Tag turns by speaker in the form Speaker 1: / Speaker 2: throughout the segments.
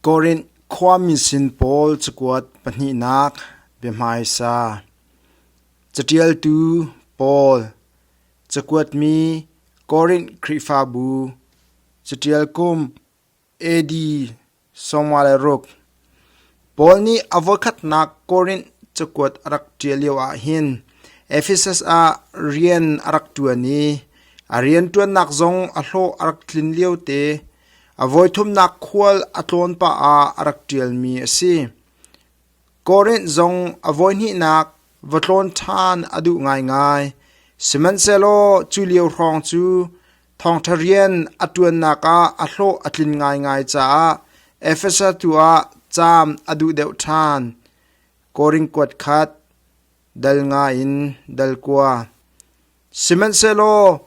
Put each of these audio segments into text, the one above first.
Speaker 1: Korint khuami sin pawl cakuat pahnihnak biahmaisa Caṭialtu Paul Cakuatmi Korint Khrihfabu Caṭial Kum AD sawmnga le ruk. Paul nih a voikhatnak Korint cakuat a rak ṭial lioah hin Efesus ah rian a rak ṭuan i a rianṭuannak zong a hlawh a rak tlin liote a voithumnak khual a tlawn pah ah a rak ṭialmi a si. Korint zong a voihnihnak va tlawn ṭhan a duh ngaingai, sihmanhsehlaw cu lio hrawng cu Thawngṭha rian a ṭuannak ah a hlawh a tlin ngaingai caah Efesa tu ah caam a duh deuh ṭhan. Korinth kuat khat, dal ngaiin dal kua. Sihmanhsehlaw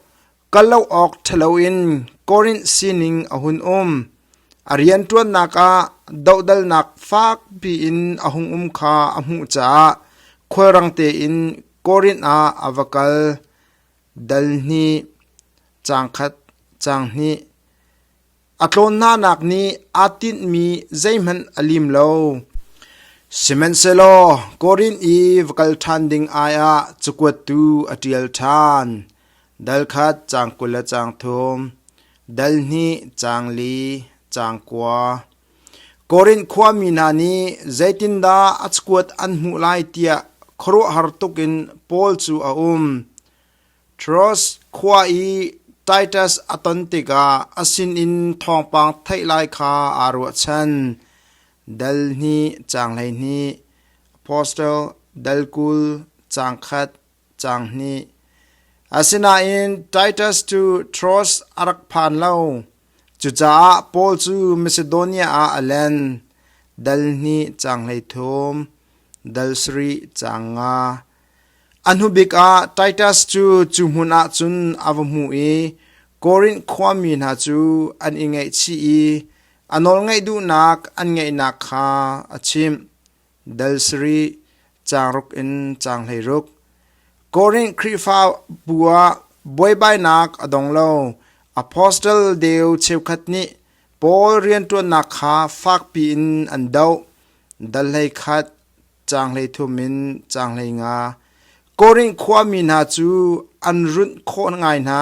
Speaker 1: kal lo awk ṭhalo in Korinth sining a hun um. A rianṭuannak ah dohdalnak fakpi in a hung um kha a hmuh caah khulrang tein Korinth ah a va kal. Dal hnih, cangkhat, canghnih. A tlawn hnanak nih aa tinhmi zeihmanh a lim lo. Sihmanhsehlaw Korinth i va kal ṭhan ding aiah cakuatu a ṭial ṭhan. Dal khat cang kul le cang thum, dal hnih cang li, cang kua. Korinth khuami hna nih zeitindah a cakuat an hmuh lai tiah khuaruahhar tukin Paul cu a um. Tiros khua i Titus a ton tikah a sinin thawngpang theih lai kha aa ruahchan. Dal hnih, caang hleihnih, Apostle dal kul, caang khat, cang hnih. Asinain Titus cu Troas a rak phan lo. Cucaah Paul cu Macedonia ah a len. Dal hnih cang hleithum, dal sarih cang nga. A hnubik ah Titus cu cu hmun ah cun a va hmu i Korinth khuami hna cu an i ngaihchih i a nawlngaih duhnak an ngeihnak kha a chimh. dal sarih, caang ruk in caang hleiruk. Korinth Khrihfabu ah buaibainak a dong lo. Apostle deu cheukhat nih Paul rianṭuannak kha fakpi in an doh. Dal hleikhat, caang hleithum in caang hleinga. Korinth khuami hna cu an runh khawh ngai hna.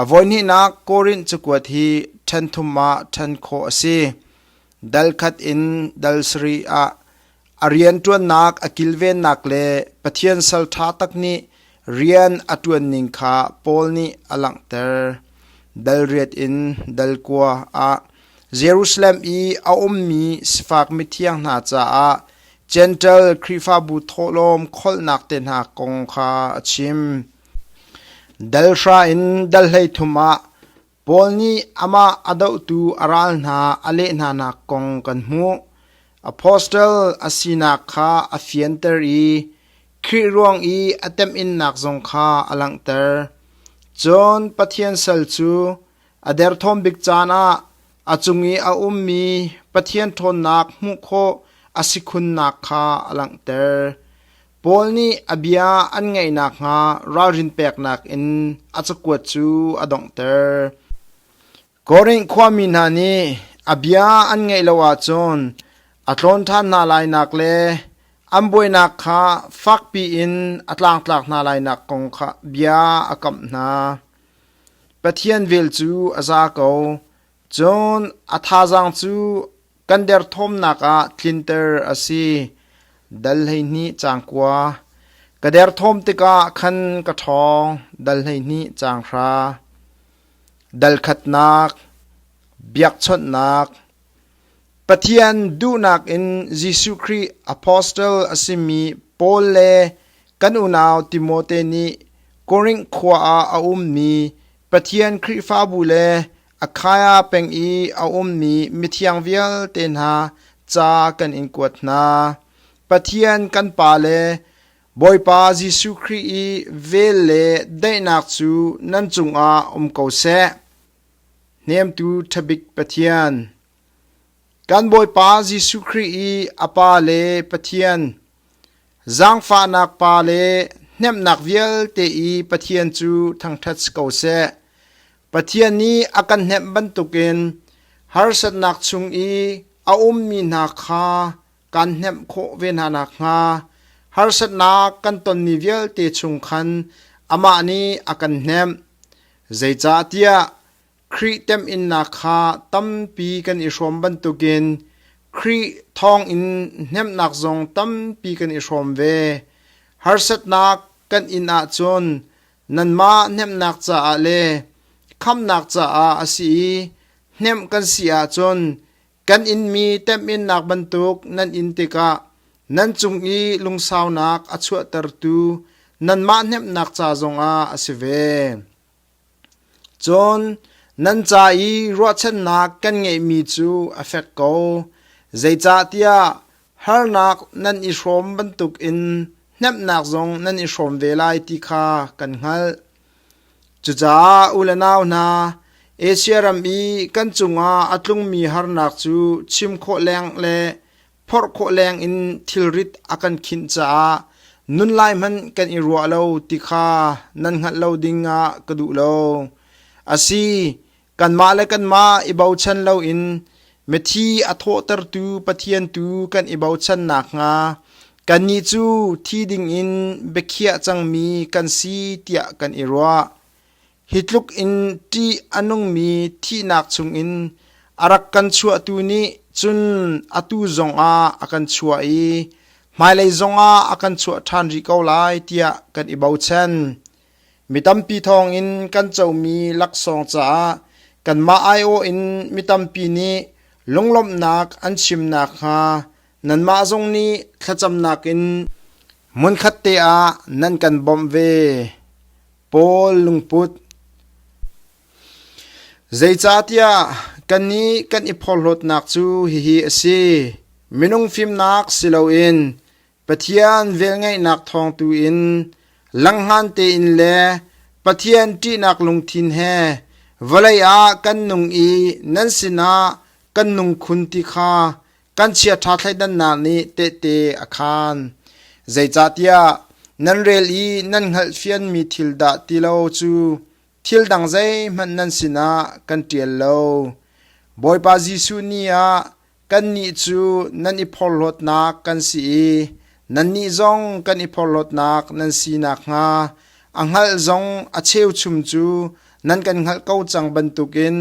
Speaker 1: A voihnihnak Korint cakuat hi ṭhen thum ah ṭhen khawh a si. Dal khat in dal sarih ah a rianṭuannak a kilvennak le Pathian sal ṭha tak nih rian a ṭuan ning kha Paul nih a langhter. Dal riat in dal kua ah Jerusalem i a ummi sifak mithiang hna caah Jentail Khrihfabu thawhlawm kholhnak te hna kong kha a chim. Dal hra in dal hleithum ah Paul nih amah a dohtu a ral hna a leh hnanak kong kan hmuh. Apostle a sinak kha a fianter i Khrih ruang i a temhinnak zong kha a langhter. Cun Pathian sal cu a derthawm bik caan ah a cung i a ummi Pathian ṭhawnnak hmuh khawh a si khunnak kha a langhter. Paul nih a bia an ngaih nakhnga ralrin peknak in a cakuat cu a donghter. Korinth khuami hna nih a bia an ngaih lo ahcun a tlawn ṭhan hna lainak le an buainak kha fakpi in a tlangtlak hna lainak kong kha bia a kamh hna. Pathian vel cu a za ko. Cun a thazaang cu kan derthawmnak ah tlinter a si. Dal hleihnih cangkua ka derthawm tikah khan ka ṭhawng dal hleihnih cang hra. Dalkhatnak, biakchawnhnak, Pathian duhnak in Jesuh Khrih apostle a simi Paul le kan unau Timote nih Korinth khua ah a ummi Pathian Khrihfabu le Akhaya peng i a ummi mithiang vialte hna ca kan in kuat hna. Pathian kan Pa le Bawipa Jesuh Khrih i vel le daihnak cu nan cungah um ko seh. Hnemtu ṭhabik Pathian, Kan Bawipa Jesuh Khrih i a Pa le Pathian, zaangfahnak Pa le hnemhnak vialte i Pathian cu thangṭhat si ko seh. Pathian nih a kan hnemh bantukin harsatnak chung i a ummi hna kha kan hnemh khawh ve hna nakhnga harsatnak kan tonmi vialte chung khan amah nih a kan hnemh. Zeicahtiah Khrih temhinnak kha tampi kan i hrawm bantukin Khrih thawngin hnemhnak zong tampi kan i hrawm ve. Harsatnak kan in ahcun nanmah hnemhnak caah le khamnak caah a si i hnemh kan si ahcun kan inmi temhinnak bantuk nan in tikah nan cung i lungsaunak a chuahtertu nanmah hnemhnak ca zongah a si ve. Cun nan ca i ruahchannak kan ngeihmi cu a fek ko, zeicahtiah harnak nan i hrawm bantukin hnemhnak zong nan i hrawm ve lai ti kha kan hngalh. Cucaah u le nau hna, Asia ram i kan cungah a tlungmi harnak cu chim khawh leng le phorh khawh leng in thilrit a kan khinh caah nun lai hmanh kan i ruah lo ti kha nan hngalh lo ding ah ka duh lo. Asi, kanmah le kanmah i bochan loin mithi a thawhtertu Pathian tu kan i bochan nak hnga kannih cu thi ding in biakhiah cangmi kan si tiah kan i ruah. Hi tluk in ṭih a nungmi thihnak chungin a rak kan chuahtu nih cun atu zongah a kan chuah i hmailei zongah a kan chuah ṭhan rih ko lai tiah kan i bochan. Mi tampi thawngin kan comi laksawng caah kanmah aiawh in mi tampi nih lunglawmhnak an chim nakhnga nanmah zong nih thlacamnak in hmunkhat te ah nan kan bawmh ve. Paul lungput Zeicahtiah kannih kan i phorhlawtnak cu hihi a si: minung fimnak si loin Pathian velngeihnak thawng tuin langhman tein le Pathian ṭihnak lungthin he vawlei ah kan nung i nan sinah kan nung khun ti kha kan chiaṭha thleidannak nih tehte a khaan. Zeicahtiah nan rel i nan hngalhfianmi thil dah ti lo cu thil dang zeihmanh nan sinah kan ṭial lo. Bawipa Jesuh ni ah kannih cu nan i phorhlawtnak kan si i nannih zong kan i phorhlawtnak nan si nakhnga a hngalh zong a cheuchum cu nan kan hngalh ko cang bantukin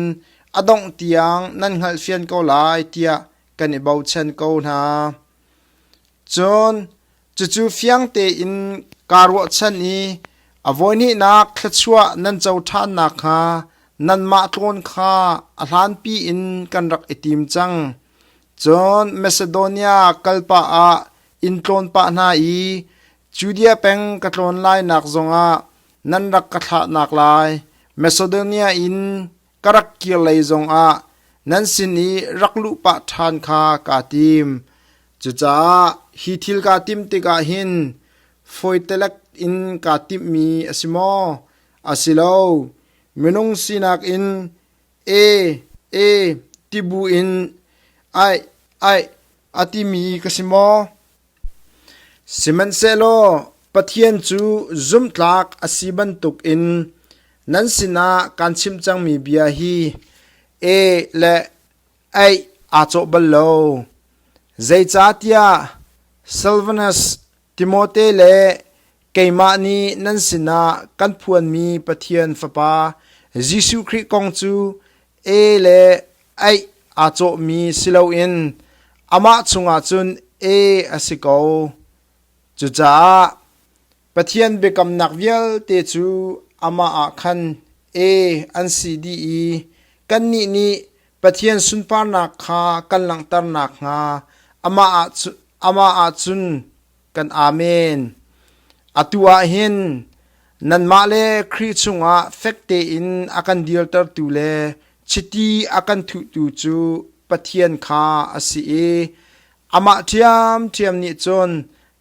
Speaker 1: A dongh tiang nan hngalh fian ko lai tiah kan i bochan ko hna. Cun cucu fiang tein kaa ruahchan i a voihnihnak thluachuah nan co ṭhan nakhnga nanmah tlawn kha a hlanpi in kan rak i tim cang. Cun Macedonia kalpah ah in tlawn pah hna i Judea peng ka tlawn lainak zongah nan rak ka thlahnak lai, Macedonia in ka rak kir lei zongah nan sin i rak luh pah ṭhan kha kaa tim. Cucaah hi thil kaa timh tikah hin fawitelek in kaa timhmi a si maw? A si lo. Minung sinak in e, e ti bu in aih, aih a timi ka si maw? Sihmanhsehlaw Pathian cu zumhtlak a si bantukin nan sinah kaan chim cangmi bia hi e le ei aa cawh bal lo. Zeicahtiah Silvanus, Timote le keimah nih nan sinah kan phuanmi Pathian Fapa Jesuh Khrih kong cu e le ei aa cawhmi si loin amah chungah cun e a si ko. Cucaah Pathian biakamnak vialte cu amah ah khan e an si dih i kannih nih Pathian sunparnak kha kan langhter nakhnga amah ah cun amah ah cun kan amen atu ah hin nanmah le Khrih chungah fek tein a kan dirtertu le chiti a kan thuhtu cu Pathian kha a si i amah ṭhiamṭhiam nih cun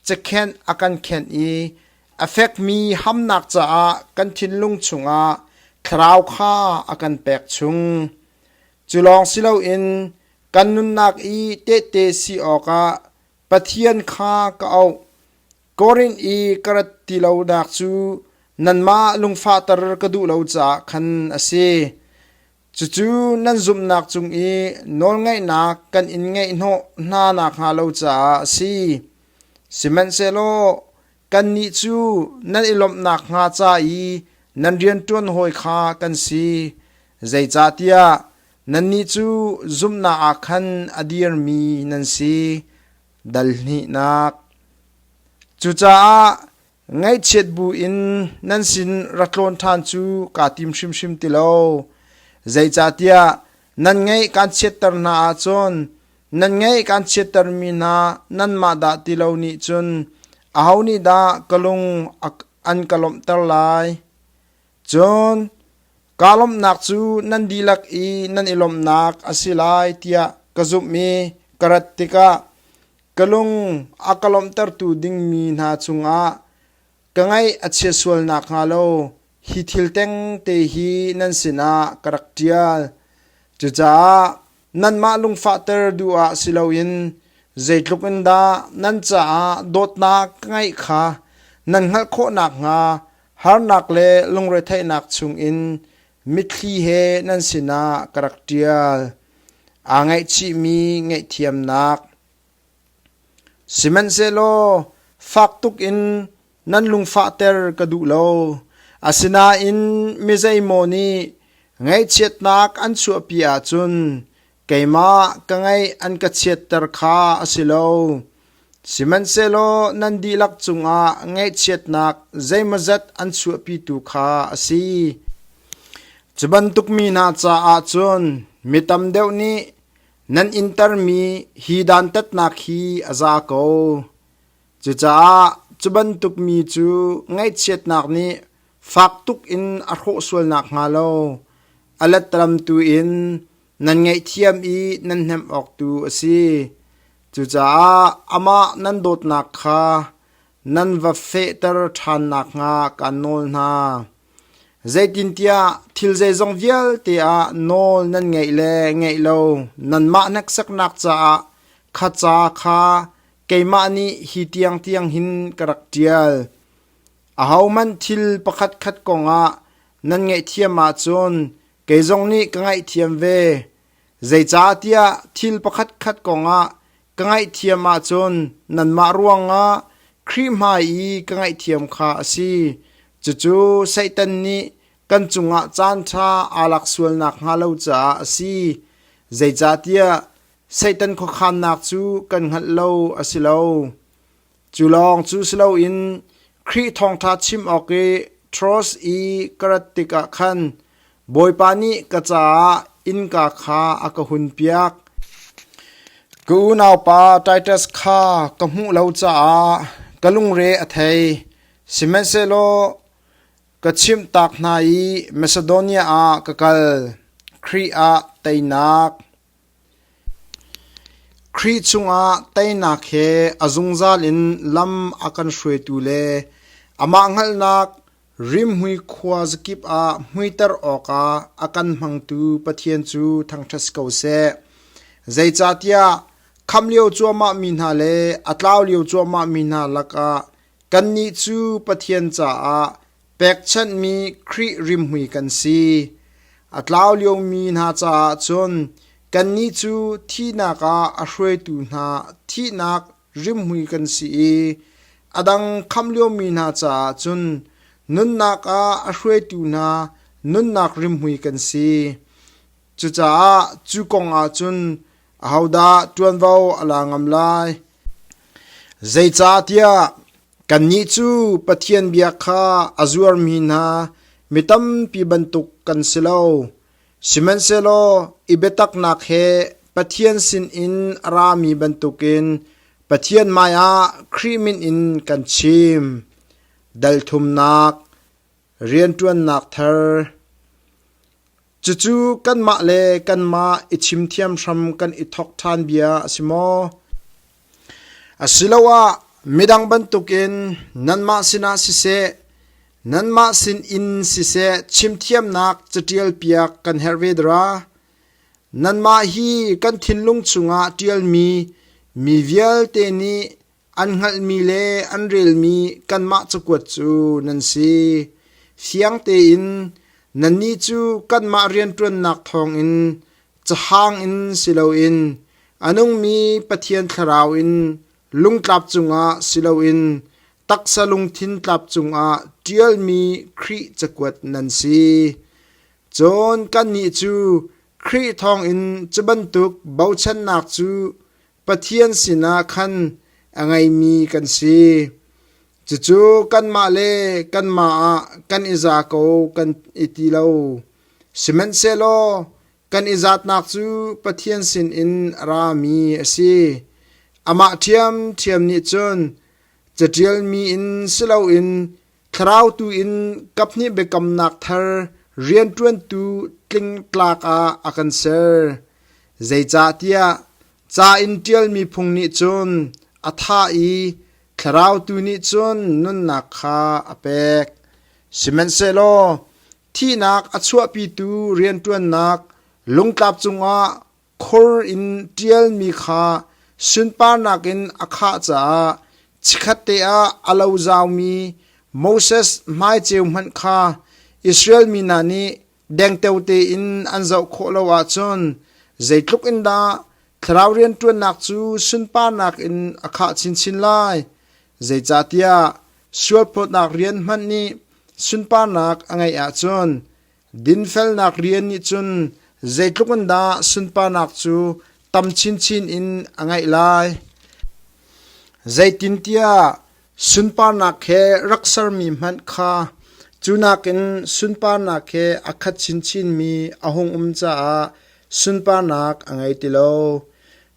Speaker 1: cakhenh a kan khenh i a fekmi hamnak caah kan thinlung chungah thlarau kha a kan pek chung cu lawng si loin kan nunnak i tehte si awkah Pathian kha ka auh, Korinth i ka rat ti lonak cu nanmah lungfahter ka duh lo caah khan a si. Cucu nan zumhnak cung i nawlngaihnak kan in ngeihhnawh hna nakhnga lo caah a si. Sihmanhsehlaw kannih cu nan i lawmh nakhnga ca i nan rianṭuan hawi kha kan si. Zeicahtiah Nannih cu zumhnak ah khan a dirmi nan si, dal hnihnak. Cucaah ngaihchiat buin nan sin ra tlawn ṭhan cu kaa tim hrimhrim ti lo. Zeicahtiah nan ngaih kaan chiatter hna ahcun nan ngaih kaan chiattermi hna nanmah dah ti lo nih cun aho nih dah ka lung an ka lawmhter lai? Cun kaa lawmhnak cu nan dihlak i nan i lawmhnak a si lai tiah ka zumh i ka rat tikah ka lung a ka lawmhtertu ding mi hna cungah ka ngaih a chia sual nakhnga lo hi thil tengte hi nan sinah ka rak ṭial. Cucaah nanmah lungfahter duh ah si loin zeitluk in dah nan caah dawtnak ka ngeih kha nan hngalh khawh nakhnga Harnak le lungretheihnak chungin mitthli he nan sinah ka rak ṭial. Aa ngaihchihmi ngaihthiamnak. Sihmanhsehlaw fak tuk in nan lungfahter ka duh lo. Asinain mi zeimaw nih ngaihchiatnak an chuahpi ahcun Keimah ka ngaih an ka chiatter kha a si lo; sihmanhsehlaw nan dihlak cungah ngaihchiatnak zeimawzat an chuahpitu kha a si. Cu bantuk mi hna caah cun mi tam deuh nih nan intermi hi dantatnak hi a za ko. Cucaah cu bantuk mi cu ngaihchiatnak nih fak tuk in a hrawh sual nakhnga lo, a letramtu in nan ngaihthiam i nan hnemh awk tu a si. Cucaah amah nan dawtnak kha nan va fehter ṭhan nakhnga kaan nawl hna. Zeitintiah thil zeizong vialte ah nawl nan ngaih le ngaih lo nanmah hneksaknak caah kha ca kha keimah nih hi tiang tiang hin ka rak ṭial. Ahohmanh thil pakhatkhat kongah nan ngaihthiam ahcun Kei zong nih ka ngaihthiam ve. Zeicahtiah thil pakhatkhat kongah ka ngaihthiam ahcun nanmah ruangah Khrih hmai i ka ngaihthiam kha a si. Cucu Satan nih kan cungah caanṭha aa lak sual nakhnga lo caah a si. Zeicahtiah Satan khuakhannak cu kan hngalh lo a si lo. Cu lawng cu si loin Khrih thawngṭha chim awk i Taras i ka rat tikah khan Bawipa nih ka caah innka kha a ka hunpiak. Ka unaupa Titus kha ka hmuh lo caah ka lungre a thei, sihmanhsehlaw ka chimhtak hna i Masedonia ah ka kal, Khrih ah teinak. Khrih cungah teinak he a zungzal in lam a kan hruaitu le amah hngalhnak rimhmui khua zakip ah hmuiter awkah a kan hmangtu Pathian cu thangṭhat si ko seh. Zeicahtiah khamh lio cuahmah mi hna le a tlau lio cuahmah mi hna lakah kannih cu Pathian caah Pekchanhmi Khrih rimhmui kan si. A tlau liomi hna caah cun kannih cu thihnak ah a hruaitu hna thihnak rimhmui kan si i a dang khamh liomi hna caah cun nunnak ah a hruaitu hna nunnak rimhmui kan si. Cucaah cu kongah cun ahodah ṭuanvo a la ngam lai? Zeicahtiah Kannih cu Pathian bia kha a zuarmi hna mi tampi bantuk kan si lo, sihmanhsehlaw i biataknak he Pathian sinin a rami bantukin Pathian hmaiah Khrih min in kan chim. Dalthumnak, rianṭuannak thar, Cucu kanmah le kanmah i chim thiam hram kan i thok ṭhan bia a si maw? Asiloah midang bantukin nanmah sinah siseh, nanmah sin in siseh chimthiamnak caṭialpiak kan herh ve dara? Nanmah hi kan thinlung chungah ṭialmi mi vialte nih An hngalhmi le an relmi kanmah cakuat cu nan si. Fiang tein nannih cu kanmah rianṭuannak thawngin cahang in si loin a nungmi Pathian Thlarau in lungtlap cungah si loin taksa lungthin tlap cungah ṭialmi Khrih cakuat nan si. Cun kannih cu Khrih thawngin cu bantuk bochannak cu Pathian sinah khan a ngeimi kan si. Cucu kanmah le kanmah ah kan i za ko kan i ti lo. Sihmanhsehlaw kan i zatnak cu Pathian sinin a rami a si. Amah ṭhiamṭhiam nih cun caṭialmi in si loin Thlarau tu in kaphnih biakamnak thar rianṭuantu tlingtlak ah a kan ser. Zeicahtiah ca in ṭialmi phung nih cun a thah i thlarau tu nih cun nunnak kha a pek. Sihmanhsehlaw thihnak a chuahpitu rianṭuannak lungtlap cungah Khur in ṭialmi kha sunparnak in a khah caah chikkhatte ah a lo zaumi Moses hmaiceu hmanh kha Israel mi hna nih dengteo tein an zoh khawh lo ahcun zeitluk in dah thlarau rianṭuannak cu sunparnak in a khah chinchin lai, zeicahtiah sualphawtnak rian hmanh nih sunparnak a ngeih ahcun Dinfelnak rian nih cun zeitluk in dah sunparnak cu tam chinchin in a ngeih lai. Zeitintiah sunparnak he rak sermi hmanh kha cu nakin sunparnak he a khat chinchinmi a hung um caah sunparnak a ngei ti lo.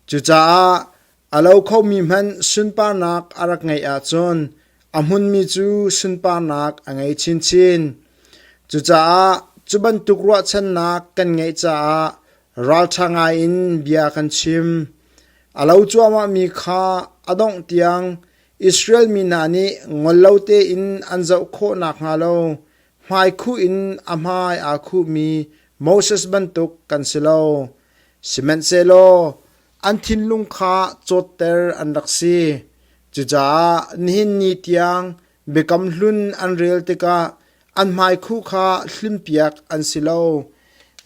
Speaker 1: Cucaah A lo khomi hmanh sunparnak a rak ngeih ahcun a hmunmi cu sunparnak a ngei chinchin. Cucaah cu bantuk ruahchannak kan ngeih caah ralṭha ngaiin bia kan chim. A lo cuahmahmi kha a dongh tiang Israel mi hna nih ngol lo tein an zoh khawh nakhnga lo hmaikhuh in a hmai aa khuhmi Moses bantuk kan si lo. Sihmanhsehlaw An thinlung kha cawtter an rak si. Cucaah nihin ni tiang Biakam Hlun an rel tikah an hmaikhuh kha hlimpiak an si lo,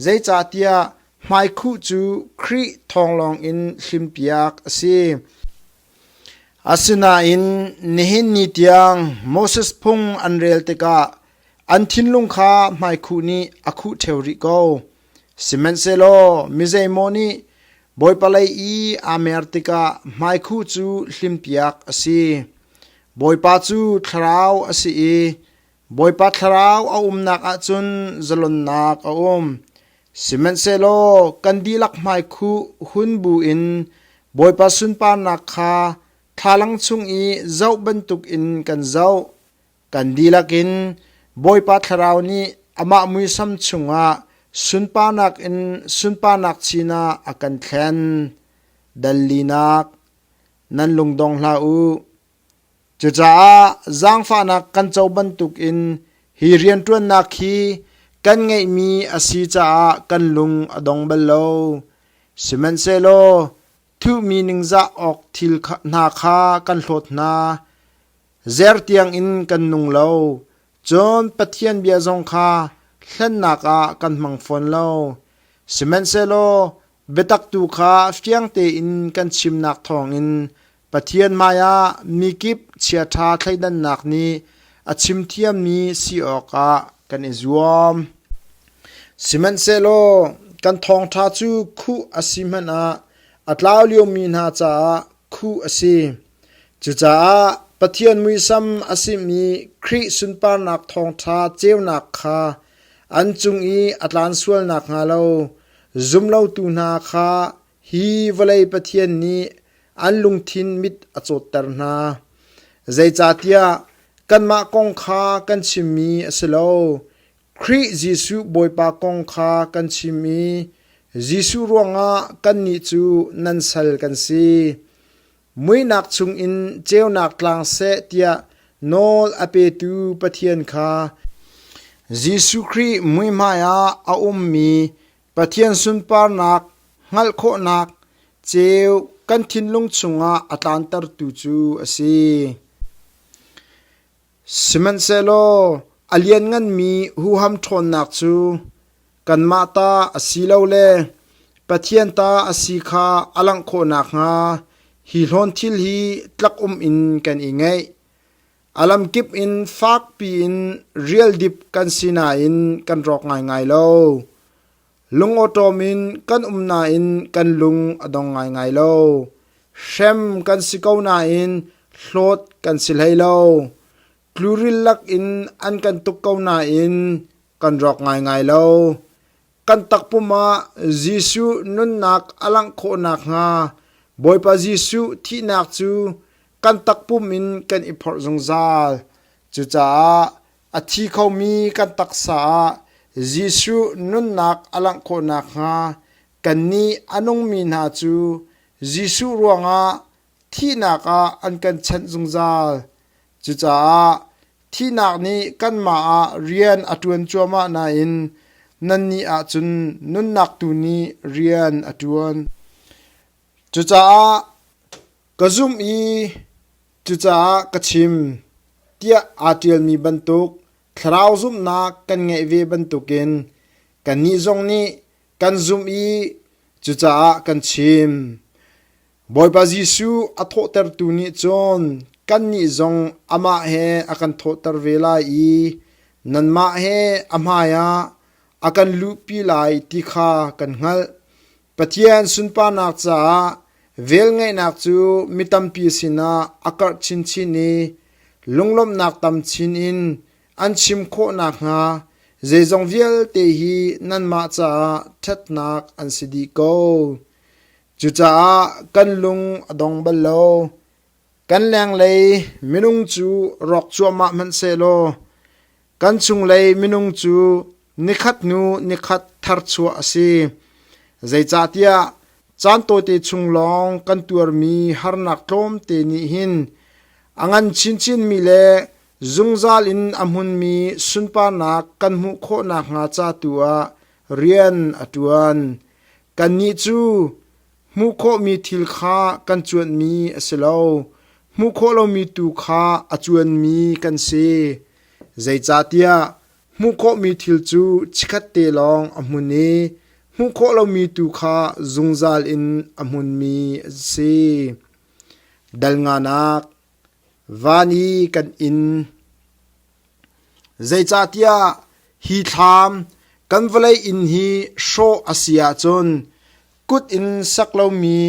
Speaker 1: zeicahtiah hmaikhuh cu Khrih thawnglawng in hlimpiak a si. Asinain nihin ni tiang Moses phung an rel tikah an thinlung kha hmaikhuh nih a khuh ṭheo rih ko. Sihmanhsehlaw mizeimaw nih Bawipa lei i aa mer tikah hmaikhu cu hlimpiak a si. Bawipa cu thlarau a si i Bawipa Thlarau a umnak ah cun zalonnak a um. Sihmanhsehlaw kan dihlak hmaikhu hun bu in Bawipa sunparnak kha thlalang chung i zoh bantukin kan zoh. Kan dihlak in Bawipa Thlarau nih amah muisam chungah sunparnak in sunparnak sinah a kan thlen. Dallinak nan lungdong hlah u. Cucaah zaangfahnak kan co bantuk in hi rianṭuannak hi kan ngeihmi a si caah kan lung a dong bal lo. Sihmanhsehlaw thuhmi ningzah awk thil hna kha kan hlawt hna. Zer tiangin kan nung lo, cun Pathian bia zong kha hlennak ah kan hmang fawn lo. Sihmanhsehlaw biatak tu kha fiang tein kan chimnak thawngin Pathian hmaiah mikip chiaṭha thleidannak nih a chim thiammi si awkah kan i zuam. Sihmanhsehlaw kan thawngṭha cu khuh a si hmanh ah a tlau liomi hna caah khuh a si. Cucaah Pathian muisam a simi Khrih sunparnak thawngṭha ceunak kha an cung i a tlan sual nakhnga lo zumlotu hna kha hi vawlei Pathian nih an lungthin mit a cawtter hna. Zeicahtiah kanmah kong kha kan chimmi a si lo, Khrih Jesuh Bawipa kong kha kan chim i Jesuh ruangah kannih cu nan sal kan si. Muihnak chungin ceunak tlang seh tiah nawl a petu Pathian kha Jesuh Khrih muihmai ah a ummi Pathian sunparnak hngalh khawhnak ceu kan thinlung chungah a tlantertu cu a si. Sihmanhsehlaw a liannganmi huham ṭhawnnak cu kanmah ta asilole Pathian ta a si kha a langh khawh nakhnga hi hlawn thil hi tlak um in kan i ngaih. A lamkip in fakpi in rialdip kan si nain kan rawk ngaingai lo. Lungawṭawm in kan um nain kan lung a dong ngaingai lo. Hrem kan si ko nain hlawt kan si hlei lo. Tluril lakin an kan tuk ko nain kan rawk ngaingai lo. Kan takpum ah Jesuh nunnak a langh khawh nakhnga Bawipa Jesuh thihnak cu kan takpum in kan i phorh zungzal. Cucaah A thi khomi kan taksa ah Jesuh nunnak a langh khawh nakhnga kannih a nungmi hna cu Jesuh ruangah thihnak ah an kan chenh zungzal. Cucaah thihnak nih kanmah ah rian a ṭuan cuahmah nain nannih ahcun nunnak tu nih rian a ṭuan. Cucaah ka zumh i Cucaah ka chim, tiah aa ṭialmi bantuk thlarau zumhnak kan ngeih ve bantukin kannih zong nih kan zumh i cucaah kan chim. Bawipa Jesuh a thawhtertu nih cun kannih zong amah he a kan thawhter ve lai i nanmah he a hmaiah a kan luhpi lai ti kha kan hngalh. Pathian sunparnak caah velngeihnak cu mi tampi sinah a karh chinchin i lunglawmhnak tam chin in an chim khawh nakhnga zeizong vialte hi nanmah caah ṭhatnak an si dih ko. Cucaah kan lung a dong bal lo. Kan lenglei minung cu rawk cuahmah hmanhsehlaw kan chunglei minung cu nikhat hnu nikhat tharchuah a si. Zeicahtiah caan tawite chung lawng kan tuarmi harnak tlawmte nih hin a ngan chinchinmi le zungzal in a hmunmi sunparnak kan hmuh khawh nakhnga ca tu ah rian a ṭuan. Kannih cu Hmuh khawhmi thil kha kan cuanmi a si lo; hmuh khawh lomi tu kha a cuanmi kan si. Zeicahtiah hmuh khawhmi thil cu chikkhatte lawng a hmun i hmuh khawh lomi tu kha zungzal in a hmunmi a si. Dal nganak Van i kan inn. Zeicahtiah hi thlam kan vawlei inn hi hrawh a si ahcun kut in sak lomi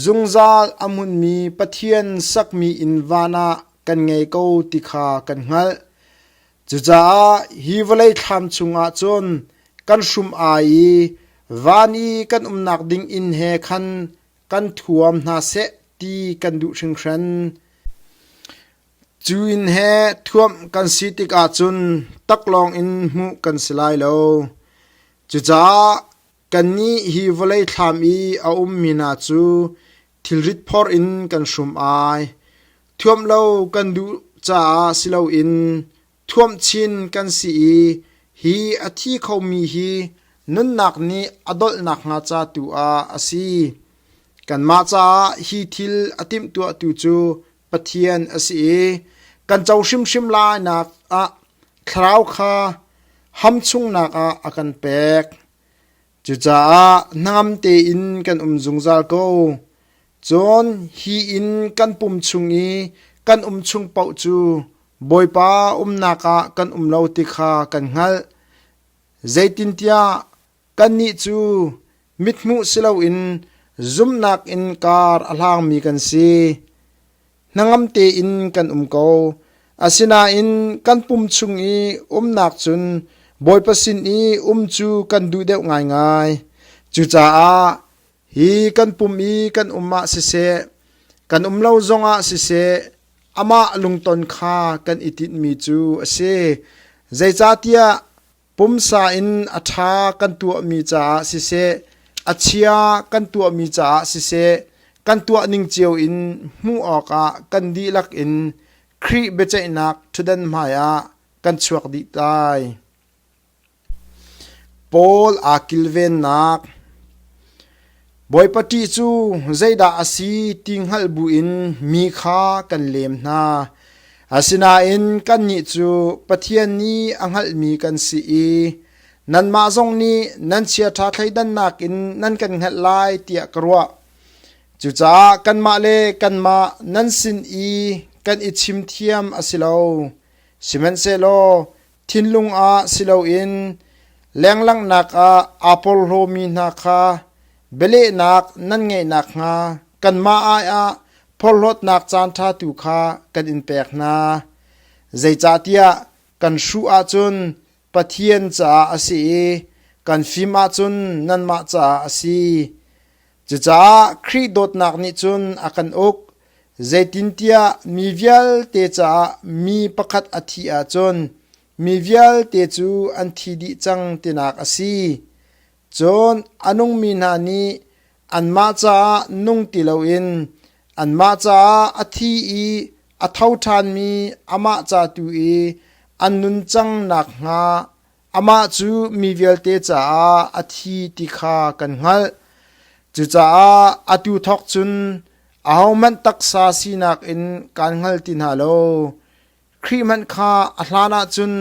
Speaker 1: zungzal a hmunmi Pathian sakmi inn van ah kan ngei ko ti kha kan hngalh. Cucaah hi vawlei thlam chungah cun kan hrum ai i van i kan umnak ding inn he khan kan thuam hna seh ti kan duh hringhran. Cu inn he thuamh kan si tikah cun taklawng in hmuh kan si lai lo. Cucaah kannih hi vawlei thlam i a ummi hna cu thilrit phor in kan hrum ai. Thuamh lo kan duh caah si loin thuamh chin kan si i hi a thi khomi hi nunnak nih a dolh nakhnga ca tu ah a si. Kanmah caah hi thil a timhtuahtu cu Pathian a si i kan co hrimhrim lainak ah thlarau kha ham chungnak ah a kan pek. Cucaah hnangam tein kan um zungzal ko. Cun hi in kan pum chung i kan um chung paoh cu Bawipa umnak ah kan um lo ti kha kan hngalh. Zeitintiah kannih cu mithmuh si loin zumhnak in kar a hlangmi kan si. hnangam tein kan um ko. Asinain kan pum chung i umnak cun Bawipa sin i um cu kan duh deuh ngaingai. Cucaah hi kan pum i kan um ah siseh, kan um lo zongah siseh, amah lungton kha kan i tinhmi cu a si. Zeicahtiah Pumsa in a ṭha kan tuahmi caah siseh, a chia kan tuahmi caah siseh, kan tuah ning cio in hmuh awkah kan dihlak in Khrih biaceihnak ṭhutdan hmaiah kan chuak dih tai. Paul aa kilvennak Bawipa ṭih cu zeidah a si ti hngalh buin mi kha kan lem hna. Asinain kannih cu Pathian nih a hngalhmi kan si i nanmah zong nih nan chiaṭha thleidannak in nan kan hngalh lai tiah ka ruah. Cucaah kanmah le kanmah nan sin i kan i chim thiam a si lo. Sihmanhsehlaw thinlung ah si loin lenglanghnak ah aa porhlawmi hna kha bialehnak nan ngeih nakhnga kanmah aiah porhlawtnak caanṭha tu kha kan in pek hna. Zeicahtiah kan hruh ahcun Pathian caah a si i kan fim ahcun nanmah caah a si. Cucaah Khrih dawtnak nih cun a kan uk, zeitintiah mi vialte caah mi pakhat a thih ahcun mi vialte cu an thi dih cang tinak a si. Cun a nungmi hna nih anmah caah nung ti loin anmah caah a thi i a tho ṭhanmi amah ca tu i an nun cang nakhnga Amah cu mi vialte caah a thi ti kha kan hngalh. Cucaah atu thawk cun ahohmanh taksa sinak in kaan hngal ti hna lo. Khrih hmanh kha a hlan ah cun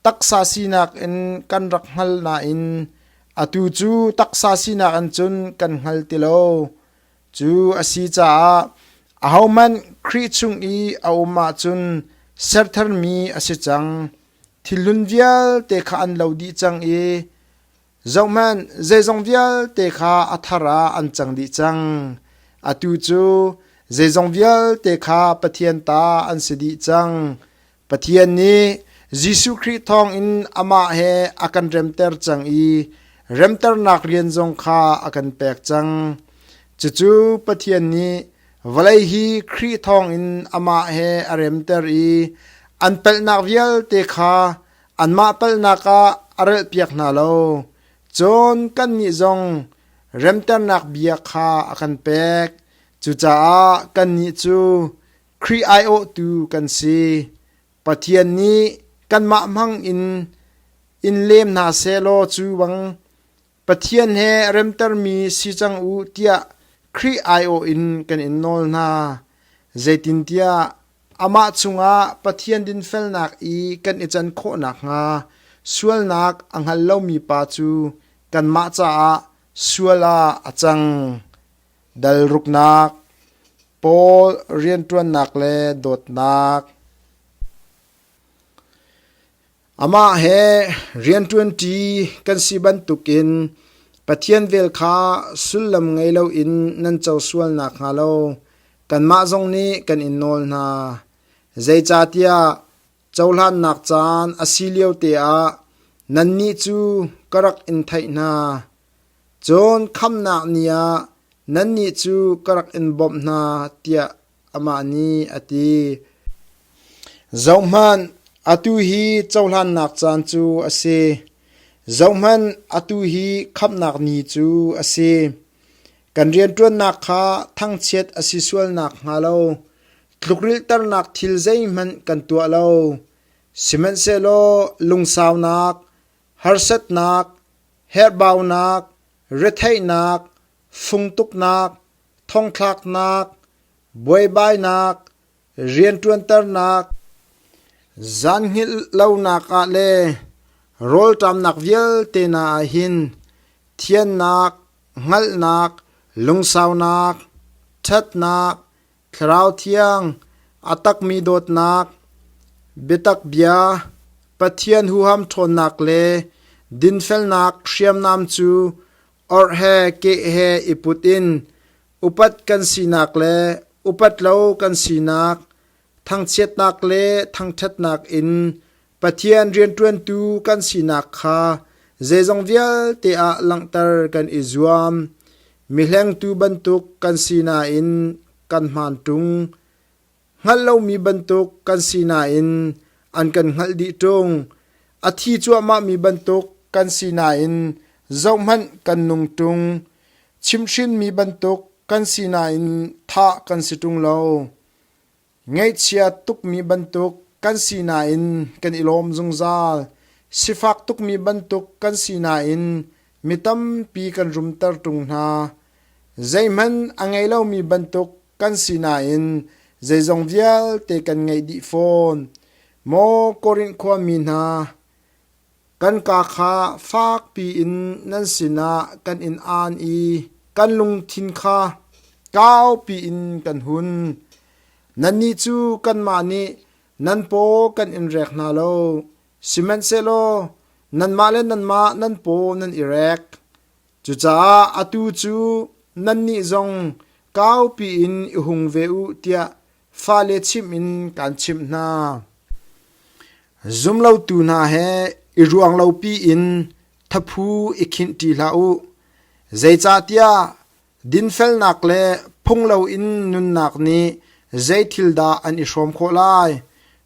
Speaker 1: taksa sinak in kan rak hngal nain atu cu taksa sinak in cun kan hngal ti lo. Cu a si caah ahohmanh Khrih chung i a um ahcun sertharmi a si cang. Thilhlun vialte kha an lo dih cang i zohhmanh, zeizong vialte kha a thar ah an cang dih cang. Atu cu zeizong vialte kha Pathian ta an si dih cang. Pathian nih Jesuh Khrih thawngin amah he a kan remter cang i remternak rian zong kha a kan pek cang. Cucu Pathian nih Vawlei hi Khrih thawngin amah he a remter i an palhnak vialte kha anmah palhnak ah a relhpiak hna lo. Cun kannih zong remternak bia kha a kan pek. Cucaah kannih cu Khrih aiawhtu kan si. Pathian nih kanmah hmangin in lem hna seh law cu bang, Pathian he remtermi si cang u tiah Khrih aiawh in kan in nawl hna. Zeitintiah amah chungah Pathian dinfelnak i kan i can khawh nakhnga sualnak a hngal lomi pa cu kanmah caah sual ah a cang. Dalruknak, Paul rianṭuannak le dawtnak. Amah he rianṭuanṭi kan si bantukin Pathian vel kha sullam ngei loin nan co sual nakhnga lo kanmah zong nih kan in nawl hna. Zeicahtiah cohlannak caan a si lio teah nannih cu ka rak in theih hna. Cun khamnak ni ah nannih cu ka rak in bawmh hna tiah Amah nih a ti, Zohhmanh, atu hi cohlannak caan cu a si. Zohhmanh, atu hi khamhnak ni cu a si. Kan rianṭuannak kha thangchiat a si sual nakhnga lo tlukrilhternak thil zeihmanh kan tuah lo. Sihmanhsehlaw lungsaunak, harsatnak, herhbaunak, retheihnak, fungtuknak, thongthlaknak, buaibainak, rianṭuanternak, zan hngilh lonak ah le rawlṭamnak vialte hna ah hin thiannak, hngalhnak, lungsaunak, ṭhatnak, Thlarau Thiang, a takmi dawtnak, biatak bia, Pathian huham ṭhawnnak le dinfelnak hriamnam cu Orh he keh he i put in upat kan sinak le upat lo kan sinak, thangchiatnak le thangṭhatnak in Pathian rianṭuantu kan sinak kha zeizong vialte ah langhter kan i zuam. Mi hlengtu bantuk kan si nain kan hmaan ṭung. Hngalh lomi bantuk kan si nain an kan hngalh dih ṭung. A thi cuahmahmi bantuk kan si nain zohhmanh kan nung ṭung. Chimhhrinmi bantuk kan si nain thah kan si ṭung lo. Ngeihchia tukmi bantuk kan si nain kan i lawm zungzal. Sifak tukmi bantuk kan si nain mi tampi kan rumter ṭung hna. Zeihmanh a ngei lomi bantuk kan si nain zeizong vialte kan ngeih dih fawn. Maw Korinth khuami hna, kan ka kha fakpi in nan sinah kan in aan i kan lungthin kha kaupi in kan hun. Nannih cu kanmah nih nan paw kan in rek hna lo, sihmanhsehlaw nanmah le nanmah nan paw nan i rek. Cucaah atu cu nannih zong kaupi in i hung ve u tiah fale chimh in kaan chimh hna. Zumlotu hna he i ruang lopi in thaphu i khinhṭi hlah u. Zeicahtiah dinfelnak le phung loin nunnak nih zei thil dah an i hrawm khawh lai?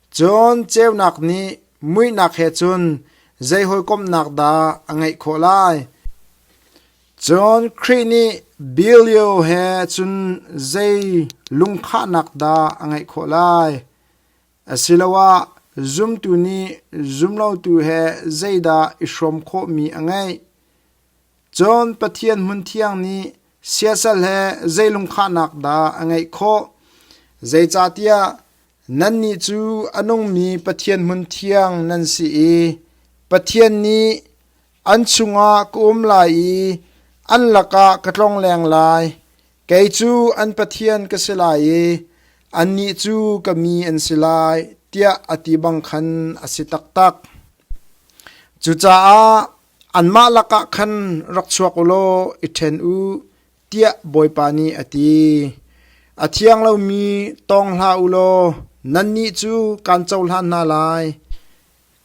Speaker 1: Cun ceunak nih muihnak he cun zei hawikomhnak dah a ngeih khawh lai? Cun Khrih nih bil lio he cun zei lungkhahnak dah a ngeih khawh lai? Asiloah zumtu nih zumlotu he zeidah i hrawm khawhmi a ngeih? Cun Pathian hmun thiang nih siasal he zei lungkhahnak dah a ngeih khawh? Zeicahtiah Nannih cu a nungmi Pathian hmunthiang nan si i Pathian nih an chungah ka um lai i an lakah ka tlong leng lai. Kei cu an Pathian ka si lai i annih cu ka mi an si lai, tiah a ti bang khan a si taktak. Cucaah anmah lakah khan rak chuak u law i ṭhen u. tiah Bawipa nih a ti. A thiang lomi tawng hlah u law nannih cu kaan cohlan hna lai.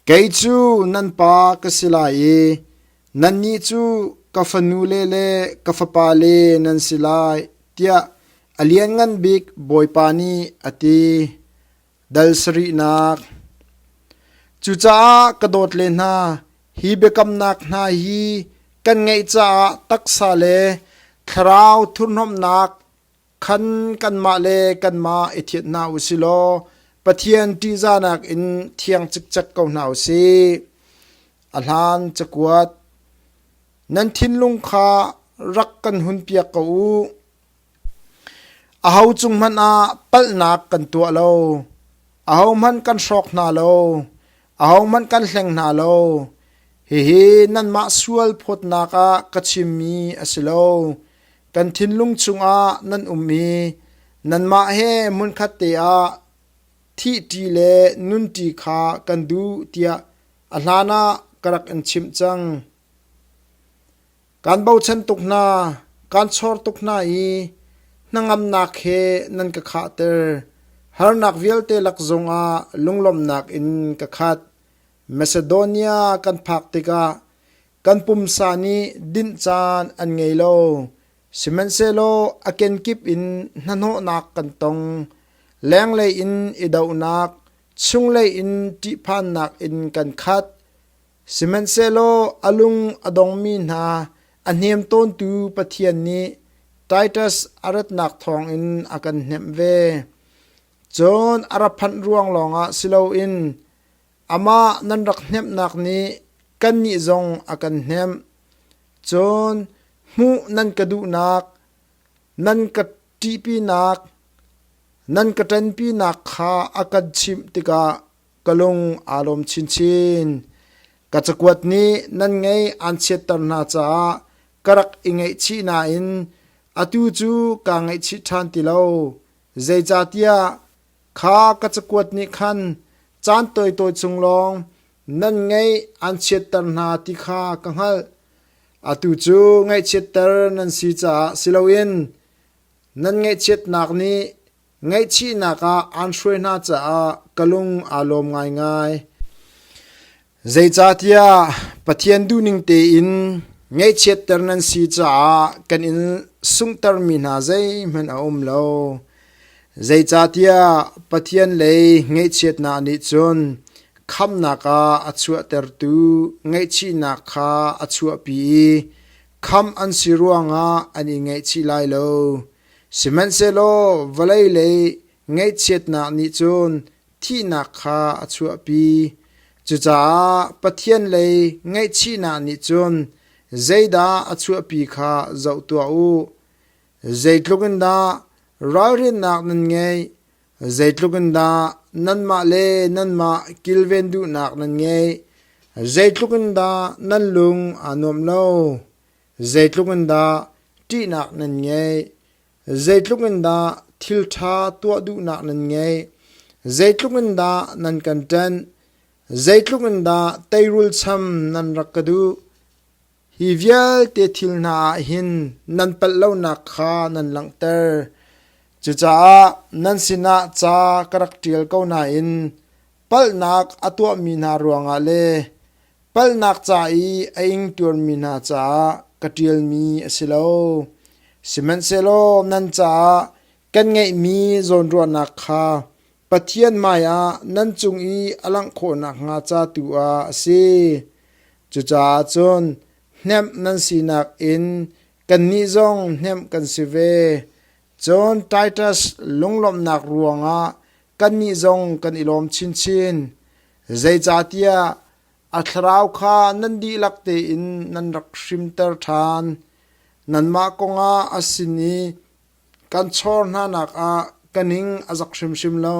Speaker 1: Kei cu nan pa ka si lai i nannih cu ka fanule le ka fapale nan si lai, tiah a Lianngan Bik Bawipa nih a ti. Dal sarihnak Cucaah ka dawt le hna, hi biakamnak hna hi kan ngeih caah taksa le thlarau thurhnomhnak khan kanmah le kanmah i thianh hna u si law Pathian ṭihzahnak in thiang cikcek ko hna u sih. A hlan cakuat Nan thinlung kha rak kan hunpiak ko u. Aho cung hmanh ah palhnak kan tuah lo. Ahohmanh kan hrawk hna lo. Ahohmanh kan hleng hna lo. Hihi nanmah sual phawtnak ah ka chimmi a si lo. Kan thinlung chungah nan um i nanmah he hmunkhat te ah thihṭi le nunṭi kha kan duh tiah a hlanah ka rak in chimh cang. Kaan bochan tuk hna, kaan chawr tuk hna i hnangamnak he nan ka khahter. Harnak vialte lak zongah lunglawmhnak in ka khat. Macedonia kan phak tikah kan pumsa nih dinh caan an ngei lo, sihmanhsehlaw a kenkip in hnahnawhnak kan tong. Lenglei in i dohnak, chunglei in ṭihphannak in kan khat. Sihmanhsehlaw a lung a dongmi hna a hnem tawntu Pathian nih Titus a ratnak thawngin a kan hnemh ve. Cun a ra phanh ruang lawngah si loin amah nan rak hnemhnak nih kannih zong a kan hnemh. Cun hmuh nan ka duhnak, nan ka ṭihpinak, nan ka ṭanpinak kha a kan chimh tikah ka lung aa lawm chinchin. Ka cakuat nih nan ngei aan chiatter hna caah ka rak i ngaihchih nain atu cu kaa ngaihchih ṭhan ti lo. Zeicahtiah kha ka cakuat nih khan caan tawitawi chung lawng nan ngaih aan chiatter hna ti kha ka hngalh. Atu cu ngaihchiatter nan si caah si loin nan ngaihchiatnak nih Ngaihchihnak ah aan hruai hna caah ka lung aa lawm ngaingai. Zeicahtiah Pathian duhning tein ngaihchiatter nan si caah kan in sunghtermi hna zeihmanh a um lo. Zeicahtiah Pathian lei ngaihchiatnak nih cun khamnak ah a chuahtertu ngaihchihnak kha a chuahpi i khamh an si ruangah an i ngaihchih lai lo. Sihmanhsehlaw vawlei lei ngaihchiatnak nih cun thihnak kha a chuahpi; cucaah Pathian lei ngaihchihnak nih cun zeidah a chuahpi kha zoh tuah u. Zeitluk in dah ralrinnak nan ngeih, zeitluk in dah nanmah le nanmah kilven duhnak nan ngeih, zeitluk in dah nan lung aa nuam lo. Zeitluk in dah ṭihnak nan ngeih, zeitluk in dah thilṭha tuah duhnak nan ngeih, zeitluk in dah nan kan ṭenh, zeitluk in dah teirul cham nan rak ka duh, hi vialte thil hna ah hin nan palh lonak kha nan langhter. Cucaah nan sinah ca ka rak ṭial ko nain palhnak a tuahmi hna ruangah le palhnak ca i a ing ṭuanmi hna caah ka ṭialmi a si lo. Sihmanhsehlaw nan caah kan ngeihmi zawnruahnak kha Pathian hmaiah nan cung i a langh khawh nakhnga ca tu ah a si. Cucaah cun hnemh nan sinak in kannih zong hnemh kan si ve. Cun Titus lunglawmhnak ruangah Kannih zong kan i lawm chinchin. Zeicahtiah a thlarau kha nan dihlak tein nan rak hrimter ṭhan. Nanmah kongah a sin i kan chawr hnanak ah ka ning a zak hrimhrim lo.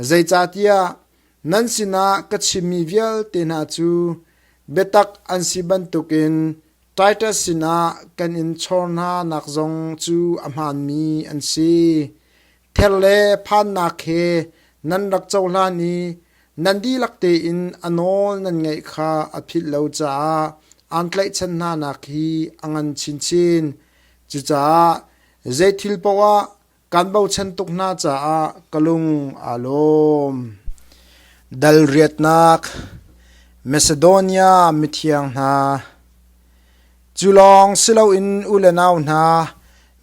Speaker 1: Zeicahtiah nan sinah ka chimmi vialte hna cu biatak an si bantukin Titus sinah kan in chawr hnanak zong cu a hmaanmi an si. Ther le phannak he nan rak cohlan i nan dihlak tein a nawl nan ngaih kha a philh lo caah aan tlaihchan hnanak hi a ngan chinchin. Cucaah zei thil paoh ah kan bochan tuk hna caah ka lung aa lawm. Dal riatnak Macedonia mithiang hna, Cu lawng si loin u le nau hna,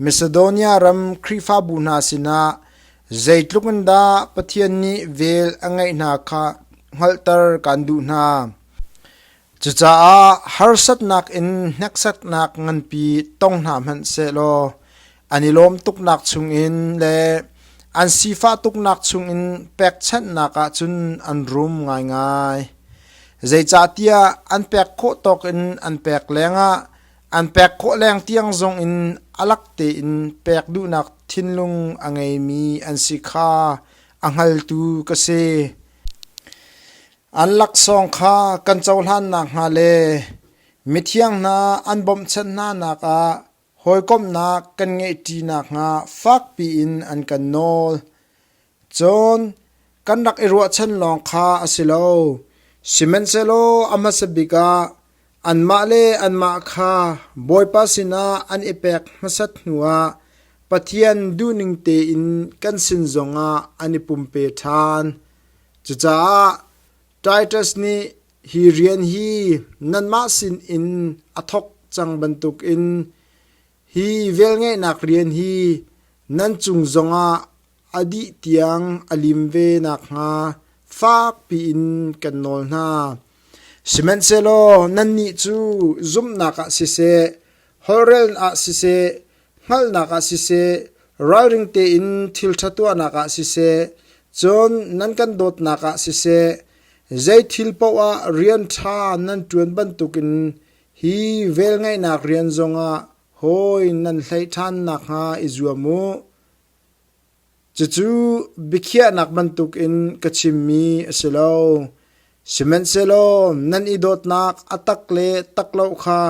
Speaker 1: Macedonia ram Khrihfabu hna sinah zeitluk in dah Pathian nih vel a ngeih hna kha hngalhter kan duh hna. Cucaah harsatnak in hneksaknak nganpi tong hna hmanh sehlaw, an i lawm tuknak chungin le an sifah tuknak chungin pekchanhnak ah cun an rum ngaingai. Zeicahtiah an pek khawh tawk in an pek lengah an pek khawh leng tiang zong in alak tein pek duhnak thinlung a ngeimi an si kha a hngaltu ka si. An laksawng kha kan cohlan nak hnga le mithiang hna an bawmhchanh hna nak ah Hawikomhnak kan ngeihṭi nakhnga fakpi in an kan nawl. Cun kan rak i ruahchan lawng kha a si lo, sihmanhsehlaw a hmasa bik ah anmah le anmah kha Bawipa sinah an i pek hmasat hnuah Pathian duhning tein kan sin zongah an i pumpe ṭhan. Cucaah Titus nih hi rian hi nanmah sin in a thawk cang bantukin hi velngeihnak rian hi nan cung zongah a dih tiang a lim ve nakhnga fakpi in kan nawl hna. Sihmanhsehlaw nannih cu zumhnak ah siseh, holhrel ah siseh, hngalhnak ah siseh, ralring tein thilṭha tuahnak ah siseh, cun nan kan dawtnak ah siseh, zei thil paoh ah rian ṭha nan ṭuan bantukin hi velngeihnak rian zongah hawi nan hlei ṭhan nakhnga i zuam u. Cucu biakhiahnak bantukin ka chimmi a si lo; sihmanhsehlaw nan i dawtnak a tak le tak lo kha